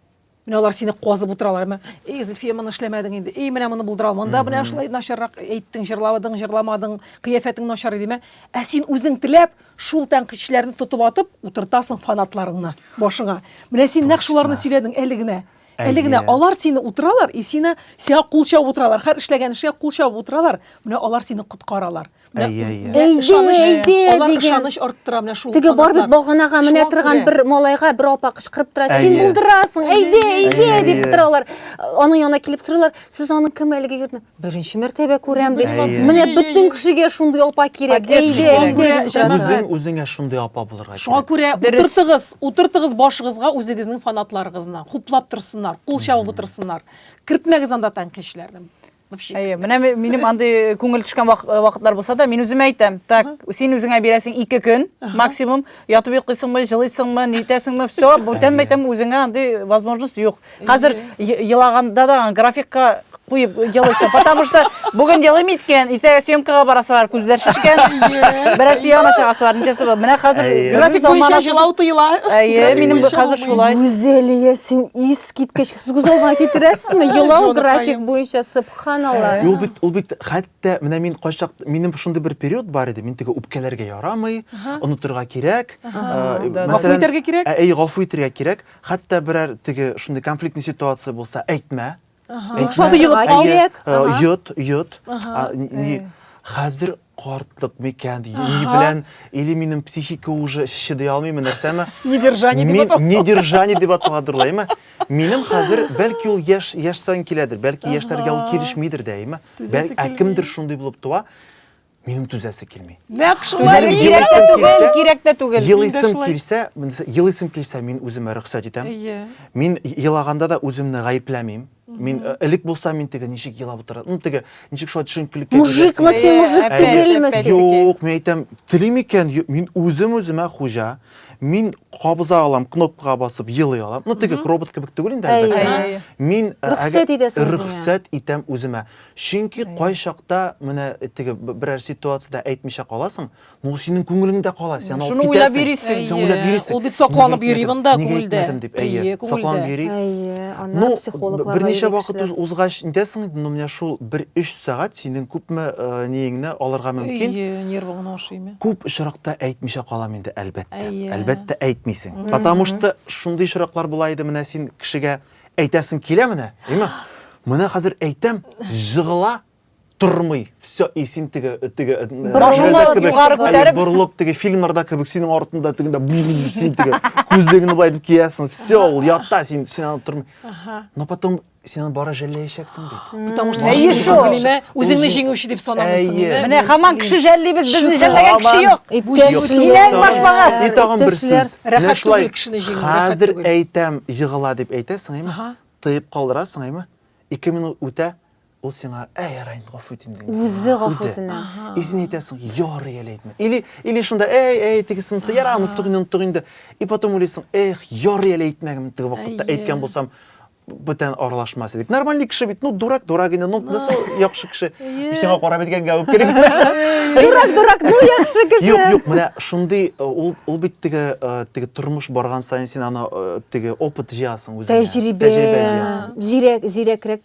Менә алар сине казып утыралар. Менә, эй, Зөлфия, моны эшләмәдең инде. Эй, менә моны булдыра алмадың. Да, менә шулай начаррак әйттең, җырладың, җырламадың, кыяфәтең начар иде. Ә син үзең теләп, шул тәнкыйтьчеләрне тотып атып утыртасың фанатларыңны башыңа. Менә син нәкъ шуларны сөйләдең әле генә. Әле генә алар сине утыралар и сине сиңа кул чабып утыралар. Һәр эшләгән эшкә кул чабып утыралар. Менә алар сине коткаралар. ышаныч арттыра менә шул теге бар бит баганага менә торган бер малайга бер апа кычкырып тора син булдырасың әйдә әйдә дип тора алар аның янына килеп торалар сез аның кем әлеге егетне беренче мәртәбә күрәм ди менә бөтен кешегә шундый апа кирәк әйдә әйдә үзең үзеңә шундый апа булырга шуңа күрә утыртыгыз утыртыгыз башыгызга үзегезнең фанатларыгызны хуплап торсыннар кул чабып утырсыннар кертмәгез анда тәнкыйтьчеләрне Вообще. Әйе, менә минем андый э, күңел төшкән э, вакытлар булса да, мин үземә әйтәм, так, син үзеңә бирәсең ике көн, максимум, ятып йоклыйсыңмы, җылыйсыңмы, нитәсеңме, все, бүтән мәйтәм, үзеңә андый возможность юк. Хәзер елаганда да графикка куеп елыйсың, потому что бүген елыйм иткән, иртәгә съемкага барасы бар, күзләр шешкән, берәрсе янына чыгасы бар, ничәсе бар. Менә хәзер график буенча җылау тыела. Әйе, минем хәзер шулай. Гүзәлия, син ис Искиткеч, сез күз алдына китерәсезме? Елау график буенча, субханалла. Ул бит, ул бит хәтта менә мин кайчак, минем шундый бер период бар иде, мин теге үпкәләргә ярамый, онытырга кирәк. Гафу итәргә кирәк? Әй, гафу итәргә кирәк. Хәтта берәр теге шундый конфликтный ситуация булса, әйтмә. Йот, йот. Хәзер Картлык микән, или белән, или минем психика уже чыдый алмыймы, нәрсәме? Недержание дип атала. Недержание дип аталадыр ул, әйме? Минем хәзер, бәлки ул яшь, яшь саен киләдер, бәлки яшьләргә ул килешмидер дә, әйме? Бәлки, ә кемдер шундый булып туа, минем түзәсе килми. Нәк шулай кирәк тә түгел, кирәк тә түгел. Елыйсым килсә, елыйсым килсә, мин үземә рөхсәт итәм. Мин елаганда да үземне гаепләмим. Мин э, элек булса мин теге ничек елап утыра. Ну теге ничек шулай төшенкелеккә Мужикмы син, мужик Әпәт, түгелме әпәт. син? Юк, мин әйтәм, телим икән, ю- мин үзем үземә хуҗа. Мин кабыза алам, кнопкага басып елый алам. Ну теге робот кебек түгел инде Әйе. әлбәттә. Әйе. Мин э, Рөхсәт әгәр- итәсең үзеңә. Рөхсәт итәм үземә. Чөнки кай чакта менә теге б- берәр ситуациядә әйтмичә каласың, Ну, синең күңелеңдә кала, сен алып Шуны уйлап йөрисең. Сен уйлап йөрисең. Ул бит сакланып йөри монда күңелдә. Әйе, сакланып йөри. Әйе, аны психологлар Берничә вакыт узгач интәсең инде, ну, менә шул 1-3 сәгать синең күпме ниеңне алырга мөмкин. Әйе, нервыңны ашыймы? Күп очракта әйтмичә калам инде, әлбәттә. Әлбәттә әйтмисең. Потому что шундый очраклар була иде, менә син кешегә әйтәсең килә менә, әйме? Менә хәзер әйтәм, җыгыла, тормый все и син теге теге борылып теге фильмнарда кебек синең артында тегендә син теге күзлегеңне былай итеп киясең все ул ятта син син аны тормый но потом сен аны бара жәлләячәксең бит потому что үзеңне җиңүче дип санамыйсың менә хаман кеше жәллибез безне жәлләгән кеше юк и тагын бер сүз рәхәт түгел кешене җиңү хәзер әйтәм егыла дип әйтәсең әйме тыеп калдырасың әйме ике минут үтә Ул сиңа, әй, ярай инде, гафу итим дигән. Үзе гафу үтенә. И син әйтәсең, ярый әле әйтмә. Или, или шунда, әй, әй, тегесе мысы, ярай, оныттык инде, оныттык инде. И потом уйлыйсың, эх, ярый әле әйтмәгән теге вакытта, әйткән булсам, бүтән аралашмас идек. Нормальный кеше бит, ну, дурак, дурак инде, ну, нәрсә яхшы кеше. Сиңа карап әйткәнгә үк кирәк. Дурак, дурак, ну, яхшы кеше. Юк, юк, менә шундый, э, ул, ул бит теге, э, теге тормыш барган саен син аны э, теге опыт җыясың үзеңә. Тәҗрибә, тәҗрибә җыясың. Зирәк, зирәкрәк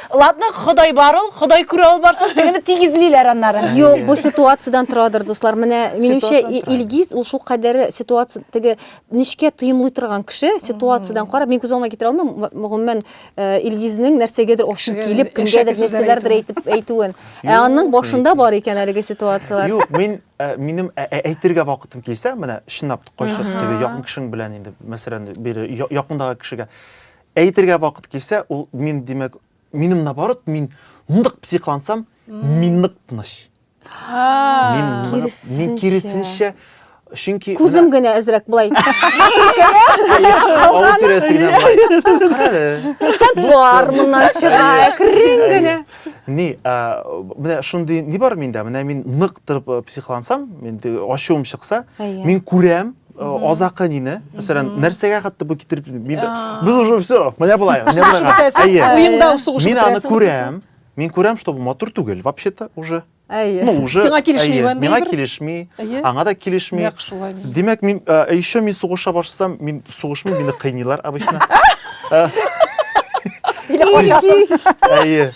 Ладно, Ходай бар ул, Ходай күрә ул барсын, тегене тигезлиләр аннары. Юк, бу ситуациядән торадыр, дуслар. Менә минемчә Илгиз ул шул кадәр ситуация теге нечкә тоемлый торган кеше, ситуациядән карап, мин күз алдыма китерә алмыйм, гомумән, э, Илгизнең нәрсәгәдер ошып килеп, кемгәдер нәрсәләрдер әйтеп әйтүен. Ә аның башында бар икән әлеге ситуацияләр. Юк, мин э, минем э, э, әйтергә вакытым килсә, менә чынлап кайчак теге якын кешең белән инде, мәсәлән, бире якындагы кешегә Әйтергә вакыт килсә, ул мин, димәк, минем наоборот, мин нык психлансам, мин нык тыныч. Мин мин киресенчә Чөнки күзем генә әзрәк былай. Авыл сүрәсе генә былай. Бар моннан чыга, әкрен генә. Ни, менә шундый ни бар миндә? Менә мин нык торып психлансам, инде ачуым чыкса, мин күрәм, Э, азакы нине мәсәлән нәрсәгә хәтта бу китереп мин без уже все менә болай уенда сугыш мин аны күрәм мин күрәм что бу матур түгел вообще то уже әйе ну уже сиңа килешми миңа килешми аңа да килешми нәкъ шулай димәк мин э, еще мин сугыша башсам мин сугышмыйм мине кыйныйлар обычно э, әйе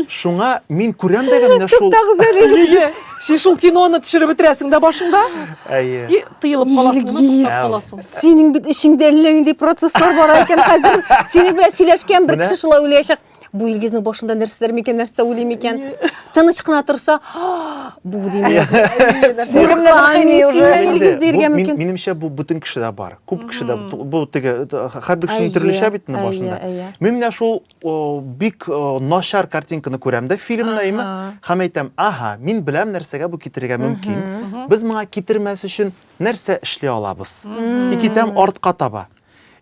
Шуңа мин күрәм дә менә шул. Туктагыз әле инде. Син шул киноны төшереп бетерәсең дә башыңда. Әйе. И тыелып каласың, туктап каласың. Синең бит эчеңдә әллә нинди процесслар бар икән хәзер. Синең белән сөйләшкән бер кеше шулай уйлаячак. Бу Илгизнең башында нәрсәләр микән, нәрсә уйлый микән? Тыныч кына торса, бу димәк. Куркам мин синнән Илгиз диергә мөмкин. Минемчә бу бөтен кешедә бар. Күп кешедә бу теге хәрби кешенең төрлечә бит инде башында. Мин менә шул бик начар картинканы күрәм дә фильмда имә һәм әйтәм аһа мин беләм нәрсәгә бу китерергә мөмкин без моңа китермәс өчен нәрсә эшли алабыз и китәм артка таба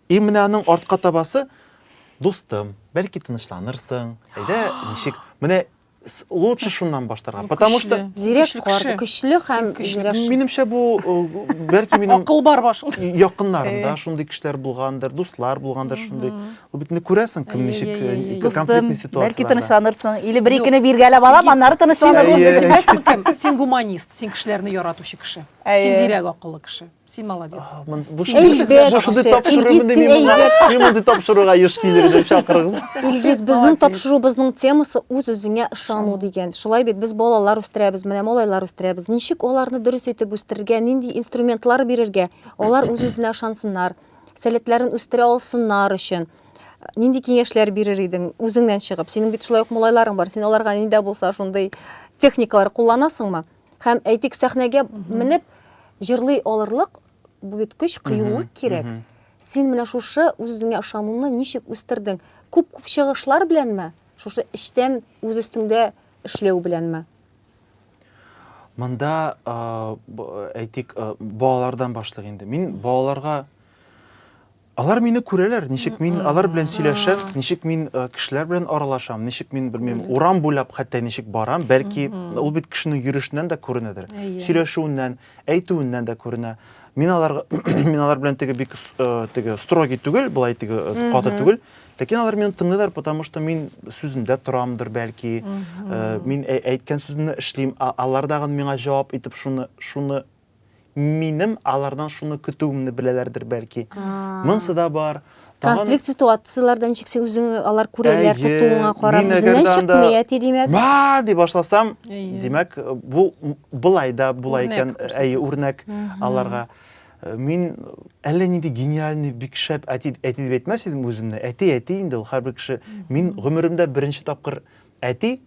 и менә аның артка табасы дустым бәлки тынычланырсың әйдә ничек менә лучше шуннан баштарга потому что зирәк карды көчле һәм минемчә бу бәлки минем акыл бар башында якыннарымда шундый кешеләр булгандыр дуслар булгандыр шундый ул бит күрәсең кем ничек конфликтный ситуация бәлки тынычланырсың или бер икене биргәләп алам аннары тынычланырсың син гуманист син кешеләрне яратучы кеше син зирәк акыллы кеше Син молодец. Син тапшыруга еш килер дип чакырыгыз. Илгиз, безнең тапшырубызның темасы үз-үзеңә ышану дигән. Шулай бит без балалар үстерәбез, менә малайлар үстерәбез. Ничек аларны дөрес итеп үстерергә, нинди инструментлар бирергә? Алар үз-үзенә ышансыннар, сәләтләрен үстерә алсыннар өчен нинди киңәшләр бирер идең үзеңнән чыгып? Синең бит шулай ук малайларың бар. Син аларга нидә булса шундый техникалар кулланасыңмы? Һәм әйтик, сәхнәгә менеп җырлый алырлык бу бит көч, кыюлык кирәк. Син менә шушы үзеңә ышануны ничек үстердең? Күп-күп чыгышлар беләнме? Шушы эчтән үз өстеңдә эшләү беләнме? Монда әйтик, балалардан башлыйк инде. Мин балаларга Алар мине күрәләр, ничек мин алар белән сөйләшәм, ничек мин кешеләр белән аралашам, ничек мин белмим, урам буйлап хәтта ничек барам, бәлки ул бит кешенең йөрешеннән дә күренәдер, сөйләшүеннән, әйтүеннән дә күренә. Мин алар мин алар белән теге бик теге строгий түгел, былай теге каты түгел, ләкин алар мине тыңлыйлар, потому что мин сүземдә торамдыр бәлки, мин әйткән сүзне эшлим, алар дагы миңа җавап итеп шуны шуны Минем алардан шуны көтүемне беләләрдер бәлки. Монсы да бар. Тагын... Конфликт ситуацияләрдән чиксең үзең алар күрәләр тотуыңа карап үзеннән чыкмый әти димәк. Ба ди башласам, димәк бу былай да була икән, әйе, үрнәк аларга. Мин әллә нинди гениальный, бик шәп әти, әти дип әйтмәс идем үземне. Әти, әти инде ул һәрбер кеше. Мин гомеремдә беренче тапкыр әти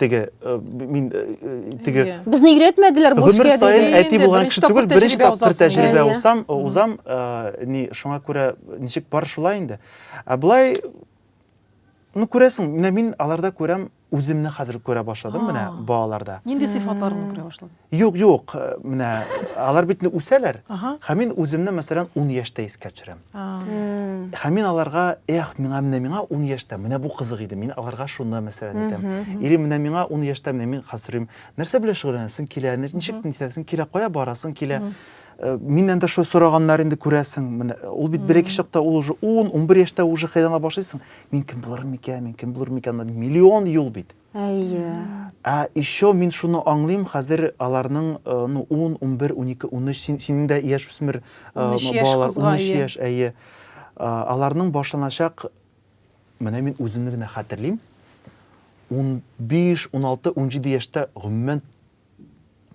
теге э, мин э, э, теге безне өйрәтмәделәр бу эшкә дип әти булган кеше түгел беренче тапкыр тәҗрибә узам узам ни шуңа күрә ничек бар шулай инде ә былай ну күрәсең менә мин аларда күрәм үземне хәзер күрә башладым менә балаларда нинди сыйфатларыңны күрә башладың Юк, юк, э, менә алар бит инде үсәләр. Ага. Һәм мин үземне, мәсәлән, 10 яшьтә искә төшерәм. А, Һәм мин аларга, эх, миңа менә миңа 10 яшьтә, менә бу кызык иде. Мин аларга шуны, мәсәлән, әйтәм. Или менә миңа 10 яшьтә, менә мин хәзер сорыйм, нәрсә белән шөгыльләнәсең килә, нәр- ничек нитәсең килә, кая барасың килә. Э, Миннән дә шул сораганнар инде күрәсең. Менә ул бит берәки чакта ул уже 10, 11 яшьтә уже хәйләңә башлыйсың. Мин кем булырмын микән, мин кем булырмын микән? Миллион юл бит. Әйе. Ә еще мин шуны аңлыйм, хәзер аларның ну, ун, унбер, унике, унөч, син, синең дә яшь үсмер балалар, унөч яшь, әйе. Аларның башланачак, менә мин үземне генә хәтерлим, унбиш, уналты, унҗиде яшьтә гомумән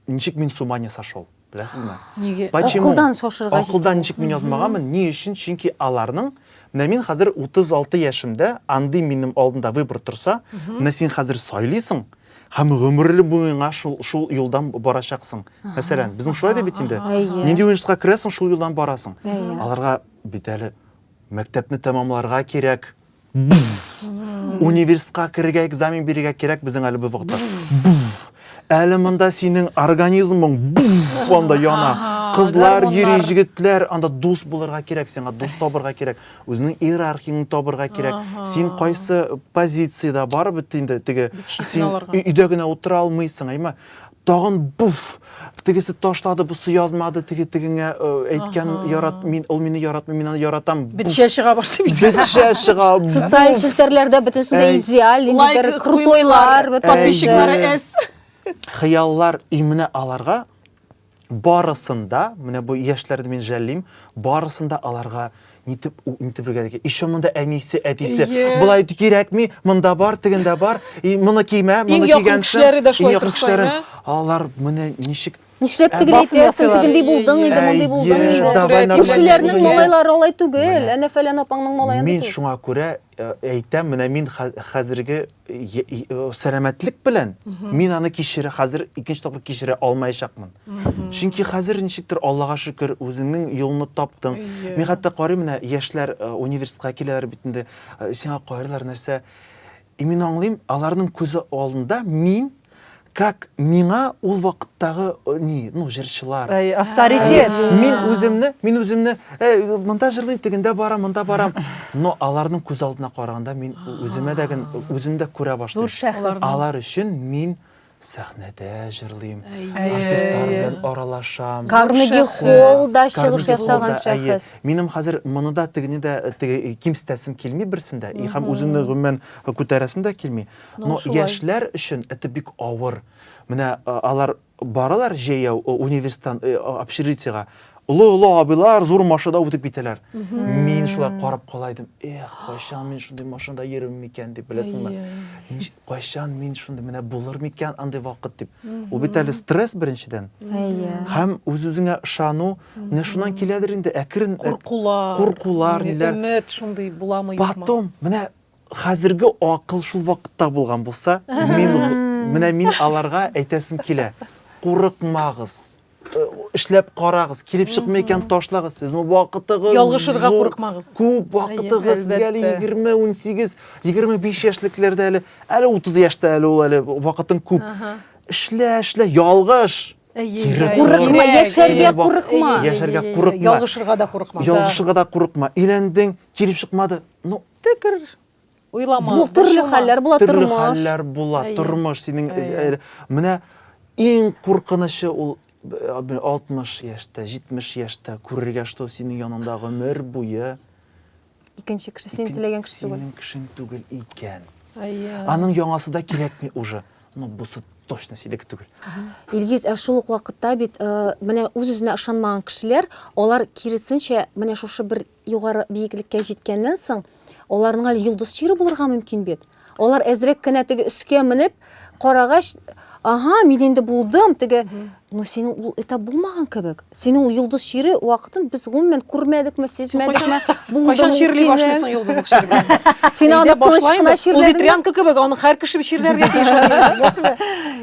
ничек мин с ума не сошел беләсезме неге акылдан шашырга акылдан ничек мин язмаганмын ни өчен чөнки аларның менә мин хәзер 36 яшемдә андый минем алдында выбор торса менә син хәзер сайлыйсың һәм гомерле буена шул шул юлдан барачаксың мәсәлән безнең шулай да бит инде нинди университетка керәсең шул юлдан барасың аларга бит әле мәктәпне тәмамларга кирәк Университетка керергә экзамен бирергә кирәк безнең әле бу вакытта. Әле монда синең организмың анда яна. Кызлар йөри, җегетләр анда дус булырга кирәк, сиңа дус табырга кирәк, үзенең иерархияңне табырга кирәк. Син кайсы позициядә барып бит инде теге син өйдә генә утыра алмыйсың, әйме? тагын буф тегесе ташлады бусы язмады теге тегеңә э, әйткән ярат мин ул мине яратмый мин аны яратам бетчә чыга башлый бит бетчә чыга социаль челтәрләрдә бөтенесе дә идеаль инде бер крутойлар подписчиклары эс хыяллар и менә аларга барысында менә бу яшьләрне мин жәллим барысында аларга нитеп нитеп үлгән ишо монда әнисе әтисе болай кирәкми монда бар тегендә бар и моны кимә моны кигән кешеләре дә шулай кешеләре алар менә ничек Нишләп ә, тегеләй итәсең, тегендей булдың инде, мондый булдың инде. Күршеләрнең малайлары алай түгел, әнә фәлән апаңның малаен. Мин шуңа күрә Э, әйтәм, менә мин хәзерге сәламәтлек белән мин аны кичерә, хәзер икенче тапкыр кичерә алмаячакмын. Чөнки хәзер ничектер Аллага шөкер, үзеңнең юлны таптың. Мин хәтта карыйм менә яшьләр э, университетка киләләр бит инде. Э, сиңа карыйлар нәрсә? И мин аңлыйм, аларның күзе алдында мин Как миңа ул вакыттагы э, ни, ну, җырчылар. Э, авторитет. Э, мин үземне, мин үземне, монда җырлыйм, тегендә барам, монда барам. Но аларның күз алдына караганда мин үземә дә генә үземдә күрә башлыйм. Зур шәхес. Алар өчен мин сәхнәдә җырлыйм артистлар белән аралашам карнеги холлда чыгыш ясаган шәхес минем хәзер моны да тегене дә э, кимсетәсем килми берсен дә һәм үземне гомумән э, күтәрәсем дә килми Но яшьләр өчен это бик авыр. Менә алар баралар җәяү университеттан общежитиега. Олы-олы абыйлар зур машинада үтеп китәләр. Мин шулай карап кала идем. Эх, кайчан мин шундый машинада йөрим микән дип, беләсеңме? Кайчан мин шундый менә булыр микән андый вакыт дип. Ул бит әле стресс беренчедән. Һәм үз-үзеңә ышану, менә шуннан киләдер инде, әкрен куркулар, ниләр. Өмет шундый буламы юкмы? Потом, менә Хәзерге акыл шул вакытта булган булса, мин менә мин аларга әйтәсем килә. Курыкмагыз. Э, эшләп карагыз, килеп чыкмый икән ташлагыз. Сезнең вакытыгыз Ялгышырга курыкмагыз. Күп вакытыгыз сезгә әле 20, 18, 25 яшьлекләрдә әле, әле 30 яшьтә әле ул әле вакытың күп. Эшлә, эшлә, ялгыш. Курыкма, яшәргә курыкма. Яшәргә курыкма. Ялгышырга да курыкма. Ялгышырга да курыкма. Өйләндең, килеп чыкмады. Ну, Ты кер уйлама. Бу төрле хәлләр була тормыш. Төрле хәлләр була тормыш. Синең менә иң куркынычы ул 60 яшьтә, 70 яшьтә күрергә, что синең яныңда гомер буе икенче кеше син теләгән кеше түгел. Синең кешең түгел икән. Аның яңасы да кирәкми уже. Ну, бусы точно синеке түгел. Илгиз, ә шул ук вакытта бит э, менә үз-үзенә ышанмаган кешеләр, алар киресенчә менә шушы бер югары биеклеккә җиткәннән соң, аларның әле йолдыз чире булырга мөмкин бит. Алар әзрәк кенә теге өскә менеп, карагач, ага, мин инде булдым, теге, ну синең ул этап булмаган кебек. Синең ул йолдыз чире вакытын без гомумән күрмәдекме, сизмәдекме? Булдым Кайчан чирли башлыйсың йолдызлык чир белән? Син аны тыныч кына чирләдеңме? Ветрянка кебек, аны һәр кеше чирләргә тиеш.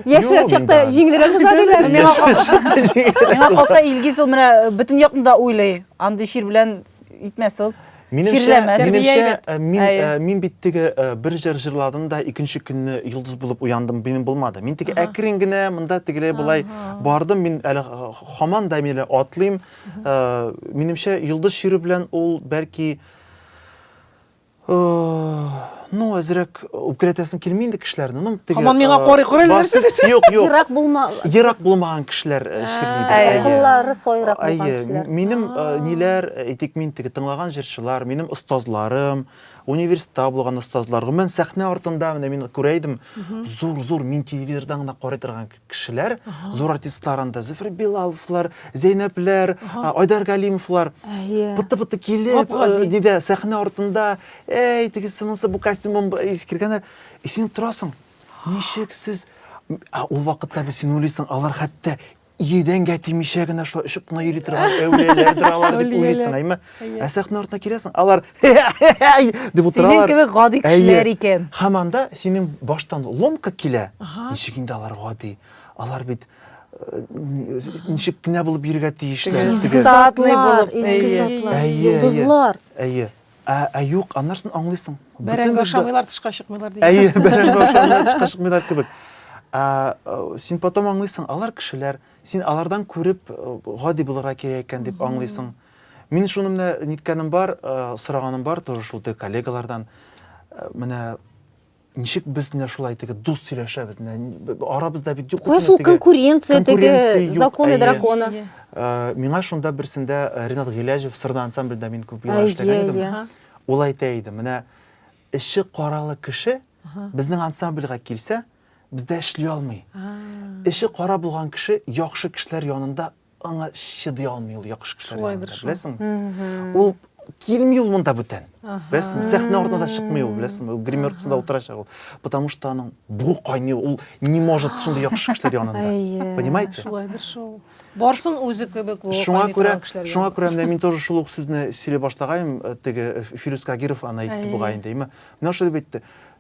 Яшьрәк чакта җиңелрәк уза диләр. Миңа калса, Илгиз ул менә бөтен якны да уйлый. Андый чир белән итмәс ул. Минемчә, минемчә мин, мин бит теге бер җыр җырладым да икенче көнне йолдыз булып уяндым, минем булмады. Мин теге әкрен генә монда тегеләй болай бардым, мин әле хаман да миле атлыйм. Минемчә йолдыз чире белән ул бәлки Ну, әзрәк үпкәләтәсем килми инде кешеләрне. Ну, теге. Һаман миңа карый карый нәрсә дисең? Юк, юк. Ерак булма. Ерак булмаган кешеләр э, чирли дә. Куллары сойрак булган кешеләр. Минем э, ниләр, әйтик, э, мин теге тыңлаган җырчылар, минем остазларым, университетта булган остазлар. Гомумән, сәхнә артында менә мин күрә идем, зур-зур мин телевизордан гына карый торган кешеләр, зур артистлар анда, Зөфәр Билаловлар, Зәйнәпләр, Айдар Галимовлар. Пыты-пыты килеп, диде, сәхнә артында, әй, тегесе монысы бу костюмым искергәннәр. И син торасың. Ничек сез? Ә ул вакытта без син уйлыйсың, алар хәтта идәнгә тимичә генә шулай очып кына йөри торган әүлияләрдер алар дип уйлыйсың, әйме? Әйе. Ә сәхнә артына киләсең, алар дип утыралар. Синең кебек гади кешеләр икән. Һәм анда синең баштан ломка килә. Ничек инде алар гади? Алар бит э, ничек кенә булып йөрергә тиешләр. Изге затлар, изге затлар. Йолдызлар. Әйе. Ә, ә юк, аннарсын аңлыйсың. Бәрәңге ашамыйлар, тышка чыкмыйлар дигән. Әйе, бәрәңге ашамыйлар, тышка чыкмыйлар кебек. Ә, син потом аңлыйсың, алар кешеләр, син алардан күреп гади булырга кирәк икән дип аңлыйсың. Mm -hmm. Мин шуны менә ниткәнем бар, сораганым бар тоже шул теге коллегалардан. Менә ничек без менә шулай теге дус сөйләшәбез менә арабызда бит юк куясы ул конкуренция теге законы дракона миңа шунда берсендә ринат гыйләҗев сырда ансамбльдә мин күп еллар эшләгән идем ул әйтә иде менә эче каралы кеше безнең ансамбльгә килсә бездә эшли алмый эче кара булган кеше яхшы кешеләр янында аңа чыдый алмый ул яхшы кешеләр янында, беләсеңме? Ул килми ул монда бүтән. Беләсеңме? Сәхнә артына да чыкмый ул, беләсеңме? Ул гримеркасында утырачак ул. Потому что аның бу кайный, ул не может шундый яхшы кешеләр янында. Понимаете? Шулайдыр шул. Барсын үзе кебек бу. Шуңа күрә, шуңа күрә менә мин тоже шул ук сүзне сөйли башлагаем, э, теге э, Фирүз Кагиров аны әйтте бугай инде. Менә шулай әйтте.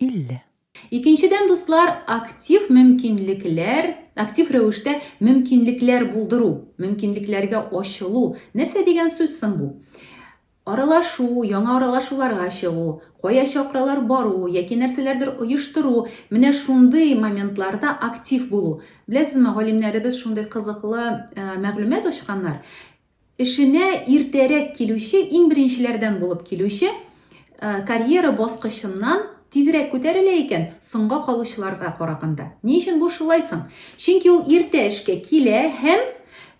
50. Икенчедән, дуслар, актив мөмкинлекләр, актив рәвештә мөмкинлекләр булдыру, мөмкинлекләргә ачылу. Нәрсә дигән сүз соң бу? Аралашу, яңа аралашуларга чыгу, кая чакыралар бару яки нәрсәләрдер оештыру, менә шундый моментларда актив булу. Беләсезме, галимнәребез шундый кызыклы мәгълүмат ачканнар, Эшенә иртәрәк килүче, иң беренчеләрдән булып килүче, карьера баскычыннан тизрәк күтәрелә икән, соңга калучыларга караганда. Ни өчен бу шулай соң? Чөнки ул иртә эшкә килә һәм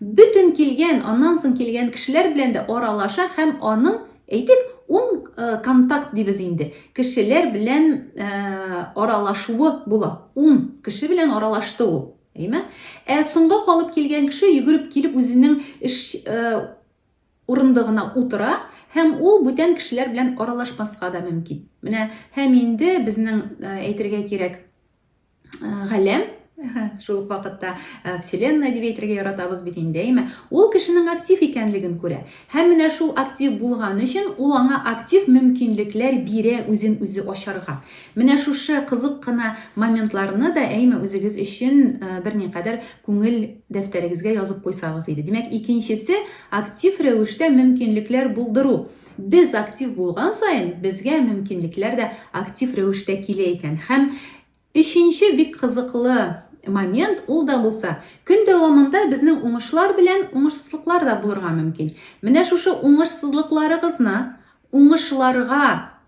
бөтен килгән, аннан соң килгән кешеләр белән дә аралаша һәм аның, әйтик, ун контакт дибез инде, кешеләр белән аралашуы була. Ун кеше белән аралашты ул. Әйме? Ә соңга калып килгән кеше йөгереп килеп үзенең эш э, урындыгына утыра һәм ул бүтән кешеләр белән аралашмаска да мөмкин. Менә һәм инде безнең э, әйтергә кирәк э, галәм шул ук вакытта вселенная дип әйтергә яратабыз бит инде, әйме? Ул кешенең актив икәнлеген күрә. Һәм менә шул актив булган өчен ул аңа актив мөмкинлекләр бирә үзен үзе ачарга. Менә шушы кызык кына моментларны да әйме үзегез өчен берникадәр күңел дәфтәрегезгә язып куйсагыз иде. Димәк, икенчесе актив рәвештә мөмкинлекләр булдыру. Без актив булган саен, безгә мөмкинлекләр дә актив рәвештә килә икән. Һәм Өченче бик кызыклы момент, ул да булса, көн дәвамында безнең уңышлар белән уңышсызлыклар да булырга мөмкин. Менә шушы уңышсызлыкларыгызны уңышларга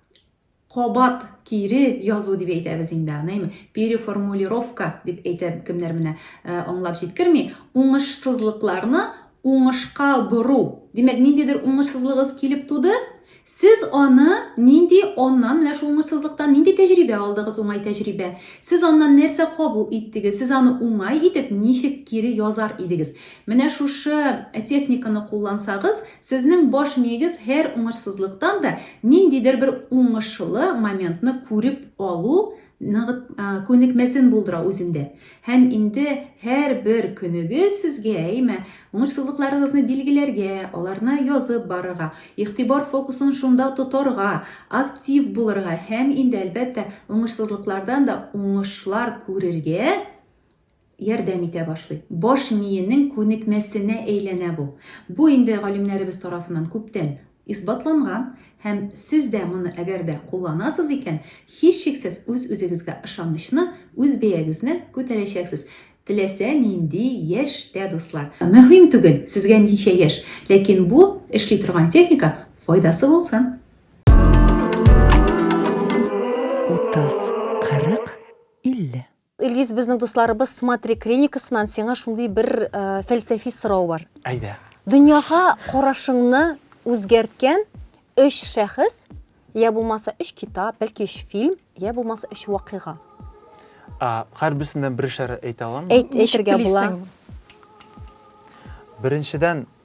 кабат кире язу дип әйтәбез инде аныймы переформулировка дип әйтә кемнәр менә э, аңлап җиткерми уңышсызлыкларны Уңышка бору. Димәк, ниндидер уңышсызлыгыз килеп туды, сез аны нинди аннан, менә шул уңышсызлыктан нинди тәҗрибә алдыгыз, уңай тәҗрибә? Сез аннан нәрсә кабул иттегез? Сез аны уңай итеп ничек кире язар идегез? Менә шушы техниканы куллансагыз, сезнең баш миегез һәр уңышсызлыктан да ниндидер бер уңышлы моментны күреп алу Ныгыт күнекмәсен булдыра үзендә. Һәм инде һәрбер көнегез сезгә, әйме, уңышсызлыкларыгызны билгеләргә, аларны язып барырга, игътибар фокусын шунда тотарга, актив булырга һәм инде, әлбәттә, уңышсызлыклардан да уңышлар күрергә, ярдәм итә башлый. Баш миенең күнекмәсенә әйләнә бу. Бу инде галимнәребез тарафыннан күптән исбатланган һәм сез дә моны әгәр дә кулланасыз икән, һичшиксез үз-үзегезгә ышанычны, үз бәягезне күтәрәчәксез. Теләсә нинди яшь тә, дуслар. Мөһим түгел, сезгә ничә яшь, ләкин бу эшли торган техника файдасы булсын! Утыз, кырык, илле. Илгиз, безнең дусларыбыз Смотри клиникасыннан сиңа шундый бер э, фәлсәфи сорау бар. Әйдә. Дөньяга карашыңны үзгәрткән өч шәхес, я булмаса өч китап, бәлки өч фильм, я булмаса өч вакыйга. Һәрберсеннән берешәр әйтә аламмы? Әйтергә була. Беренчедән,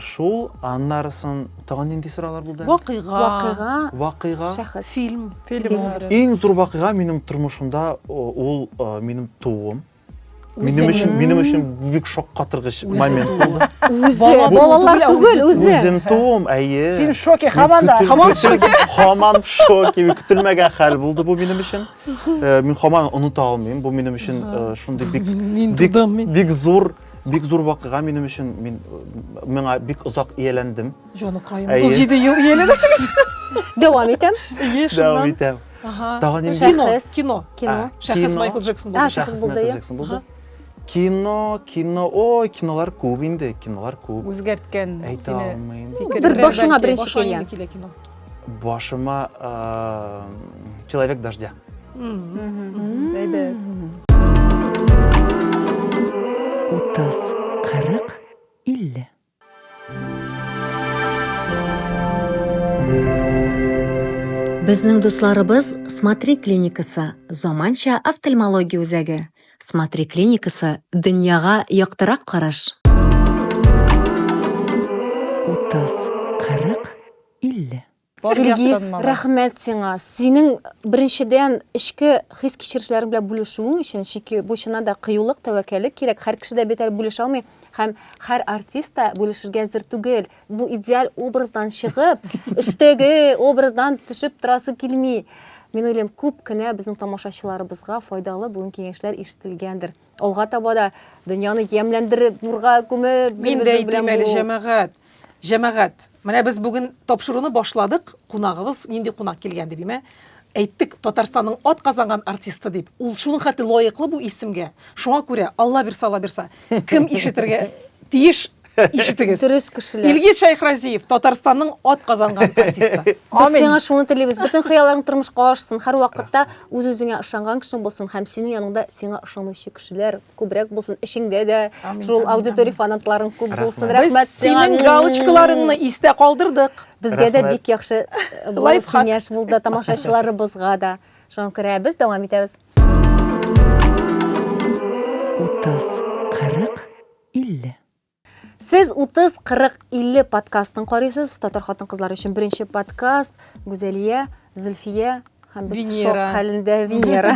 Шул, аннарысын тагын нинди соралар булды? Вакыйга. Вакыйга. Вакыйга. Шәхес. Фильм. Фильм. Иң зур вакыйга минем тормышымда ул минем тууым. Минем өчен, минем өчен бик шаккатыргыч момент булды. Үзе, балалар түгел, үзе. Үзем туым, әйе. Син шоке, хаман да, хаман шоке. Хаман шоке, көтелмәгән хәл булды бу минем өчен. Э, мин хаман оныта алмыйм бу минем өчен э, шундый бик бик бик зур бик зур вакыйга минем өчен мин э, миңа бик озак ияләндем җаныкаем отыз җиде ел ияләнәсегез дәвам итәм дәвам итәм тагын инде кино кино кино шәхес майкл джексон булды шәхес майкл джексон булды кино кино ой кинолар күп инде кинолар күп үзгәрткән әйтә алмыйм бер башыңа беренче килгән кино Башыма Человек дождя. Әйбәт. Утыз, кырык, илле. Безнең дусларыбыз Смотри клиникасы, заманча офтальмология үзәге. Смотри клиникасы, дөньяга яктырак караш. Утыз, кырык, 50. Илгиз, рәхмәт сиңа. Синең беренчедән эчке хис-кичерешләрең белән бүлешүең өчен, чөнки бу чыннан да кыюлык, тәвәккәллек кирәк. Һәр кеше дә бит әле бүлешә алмый һәм һәр артист та бүлешергә әзер түгел. Бу идеаль образдан чыгып, өстәге образдан төшеп торасы килми. Мин уйлыйм, күп кенә безнең тамашачыларыбызга файдалы бүген киңәшләр ишетелгәндер. Алга таба да дөньяны ямьләндереп, нурга күмеп Мин дә әйтим әле, җәмәгать. Җәмәгать, менә без бүген тапшыруны башладык. Кунагыбыз нинди кунак килгән дип, имә әйттек Татарстанның ат казанган артисты дип. Ул шуның хәтле лаеклы бу исемгә. Шуңа күрә Алла бирса, Алла бирса, кем ишетергә тиеш Ишетегез. Дөрес кешеләр. Илгиз Шәйхразиев, Татарстанның ат казанган артисты. Без сиңа шуны телибез. Бөтен хыялларың тормышка ашсын. Һәр вакытта үз-үзеңә ышанган кешең булсын һәм синең яныңда сиңа ышанучы кешеләр күбрәк булсын. Эшеңдә дә шул аудитория фанатларың күп булсын. Рәхмәт сиңа. Синең галочкаларыңны истә калдырдык. Безгә дә бик яхшы э, киңәш булды тамашачыларыбызга да. Шуңа күрә без дәвам итәбез. Утыз. 50. Сез 30, 40, 50 подкастын карыйсыз. Татар хатын-кызлар өчен беренче подкаст Гүзәлия, Зөлфия һәм без Венера. шок хәлендә Венера.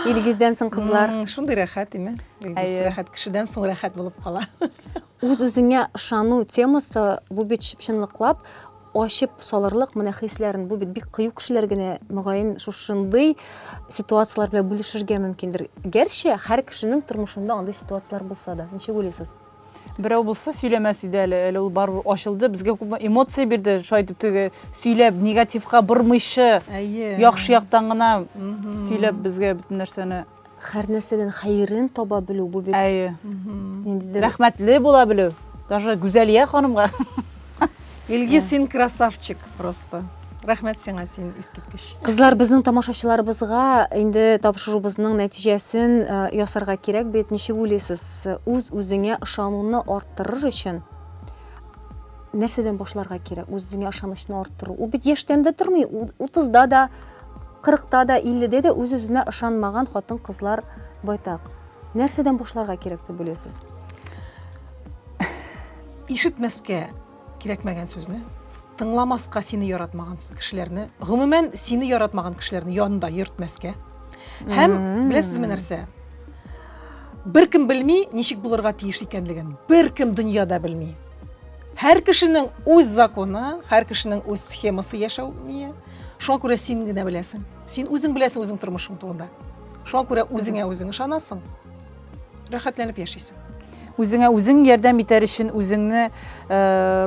Илгиздән соң кызлар. М, Шундый рәхәт, име? Илгиз, Әйе. рәхәт. Кешедән соң рәхәт булып кала. Үз-үзеңә ышану темасы бу бит чынлыклап Ачып салырлык менә хисләрен, бу бит бик кыю кешеләр генә, мөгаен, шушындый ситуацияләр белән бүлешергә мөмкиндер. Гәрчә, һәр кешенең тормышында андый ситуацияләр булса да. Ничек уйлыйсыз? Берәү булса сөйләмәс иде әле, әле ул барыбер ачылды, безгә күпме эмоция бирде, шулай итеп теге сөйләп, негативка бормыйча, яхшы яктан гына сөйләп безгә бөтен нәрсәне. Хәрнәрсәдән хәерен таба белү бу бит. Әйе. Ниндидер. Рәхмәтле була белү. Даже Гүзәлия ханымга. Илги, син красавчик просто. Рәхмәт сиңа, син искиткеч. Кызлар, безнең тамашачыларыбызга инде тапшыруыбызның нәтиҗәсен э, ясарга кирәк бит. Ничек уйлыйсыз, үз-үзеңә ышануны арттырыр өчен нәрсәдән башларга кирәк? Үз-үзеңә ышанычны арттыру. Ул бит яшьтән дә тормый, 30-да да, Кырыкта да, илледә дә үз-үзенә ышанмаган хатын-кызлар байтак. Нәрсәдән башларга кирәк дип уйлыйсыз? Ишетмәскә кирәкмәгән сүзне, тыңламаска сине яратмаган кешеләрне, гомумән, сине яратмаган кешеләрне янында йөртмәскә. Һәм, беләсезме нәрсә? Беркем белми, ничек булырга тиеш икәнлеген. Беркем дөньяда белми. Һәр кешенең үз законы, һәр кешенең үз схемасы яшәү ние. шуңа күрә син генә беләсең син үзең беләсең үзең тормышың турында шуңа күрә үзеңә үзең ышанасың рәхәтләнеп яшисең үзеңә үзең ярдәм итәр өчен үзеңне э,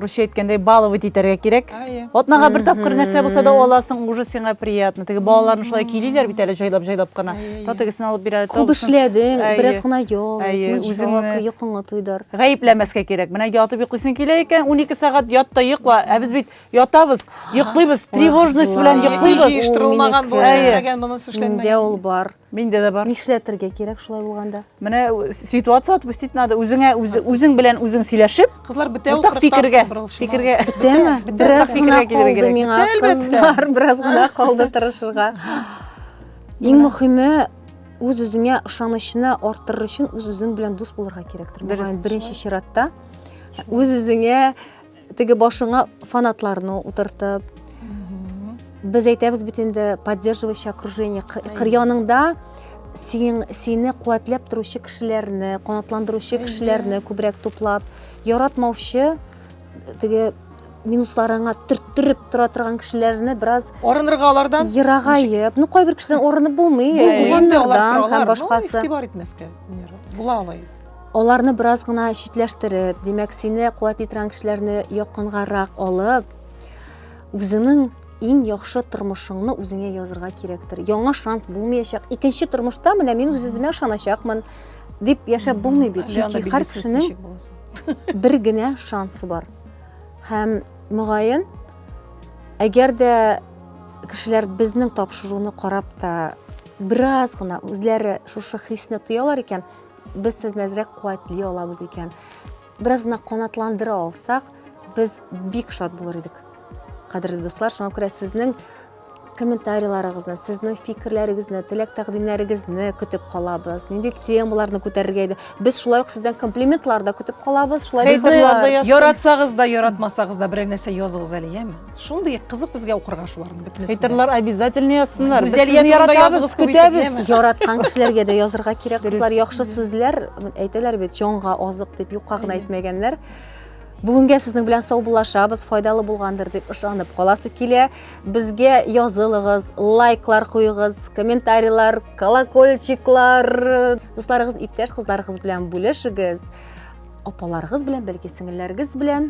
русча әйткәндәй баловать итәргә кирәк атнага бер тапкыр нәрсә булса да аласың уже сиңа приятно теге балаларны шулай килиләр бит әле җайлап җайлап кына то тегесен алып бирә күп эшләдең бераз гына ял үзеңне йокыңа туйдыр гаепләмәскә кирәк менә ятып йоклыйсың килә икән унике сәгать ят та йокла ә без бит Ятабыз, йоклыйбыз, тревожность белән Ой, йоклыйбыз. җыештырылмаган, бу Әйе. эшләнмәгән, монысы Миндә эшләнмәгән. ул бар. Миндә дә бар. Нишләтергә кирәк шулай булганда? Менә э, ситуация отпустить надо. Үзеңә үзе, үзең белән үзең сөйләшеп, Кызлар бетә ул Уртак фикергә, фикергә. Бетәме? бетә. Бераз Бетә. гына Бетә. калды Бетә. миңа, Бетә, әлбәттә. кызлар, бераз гына калды тырышырга. Иң мөһиме үз үзеңә ышанычны арттырыр өчен үз үзең белән дус булырга кирәктер. Дөрес. Мөгаен, беренче чиратта үз үзеңә Теге башыңа фанатларны утыртып, без әйтәбез бит инде поддерживающий окружение кыр яныңда син, сине куәтләп торучы кешеләрне канатландыручы кешеләрне күбрәк туплап яратмаучы теге минусларыңа төрттереп тора торган кешеләрне бераз арынырга алардан ерагаеп ну кайбер кешедән арынып булмый туганнардан һәм башкасы игътибар итмәскә була алай Аларны бераз гына читләштереп, димәк, сине куәтли торган кешеләрне якынгарак алып, үзеңнең иң яхшы тормышыңны үзеңә язырга кирәктер. Яңа шанс булмаячак. Икенче тормышта менә мин үз үземә ышаначакмын дип яшәп булмый бит. Чөнки һәр кешенең бер генә шансы бар. Һәм мөгаен, әгәр дә кешеләр безнең тапшыруны карап та бераз гына үзләре шушы хисне тоялар икән, без сезне әзрәк куәтли алабыз икән, бераз гына канатландыра алсак, без бик шат булыр идек. Кадерле дуслар, шуңа күрә сезнең комментарийларыгызны, сезнең фикерләрегезне, теләк тәкъдимнәрегезне көтеп калабыз. Нинди темаларны күтәрергә иде? Без шулай ук сездән комплиментлар да көтеп калабыз. Шулай Безне яратсагыз да, яратмасагыз да берәр нәрсә языгыз әле, яме? шундый кызык безгә укырга шуларның бөтенесен әйтерләр обязательно язсыннар гүзәлия турында языгыз күп көтәбез яраткан кешеләргә дә язырга кирәк кызлар яхшы сүзләр әйтәләр бит җанга азык дип юкка гына әйтмәгәннәр бүгенгә сезнең белән саубуллашабыз файдалы булгандыр дип ышанып каласы килә безгә язылыгыз лайклар куегыз комментарийлар колокольчиклар дусларыгыз иптәш кызларыгыз белән бүлешегез апаларыгыз белән бәлки сеңелләрегез белән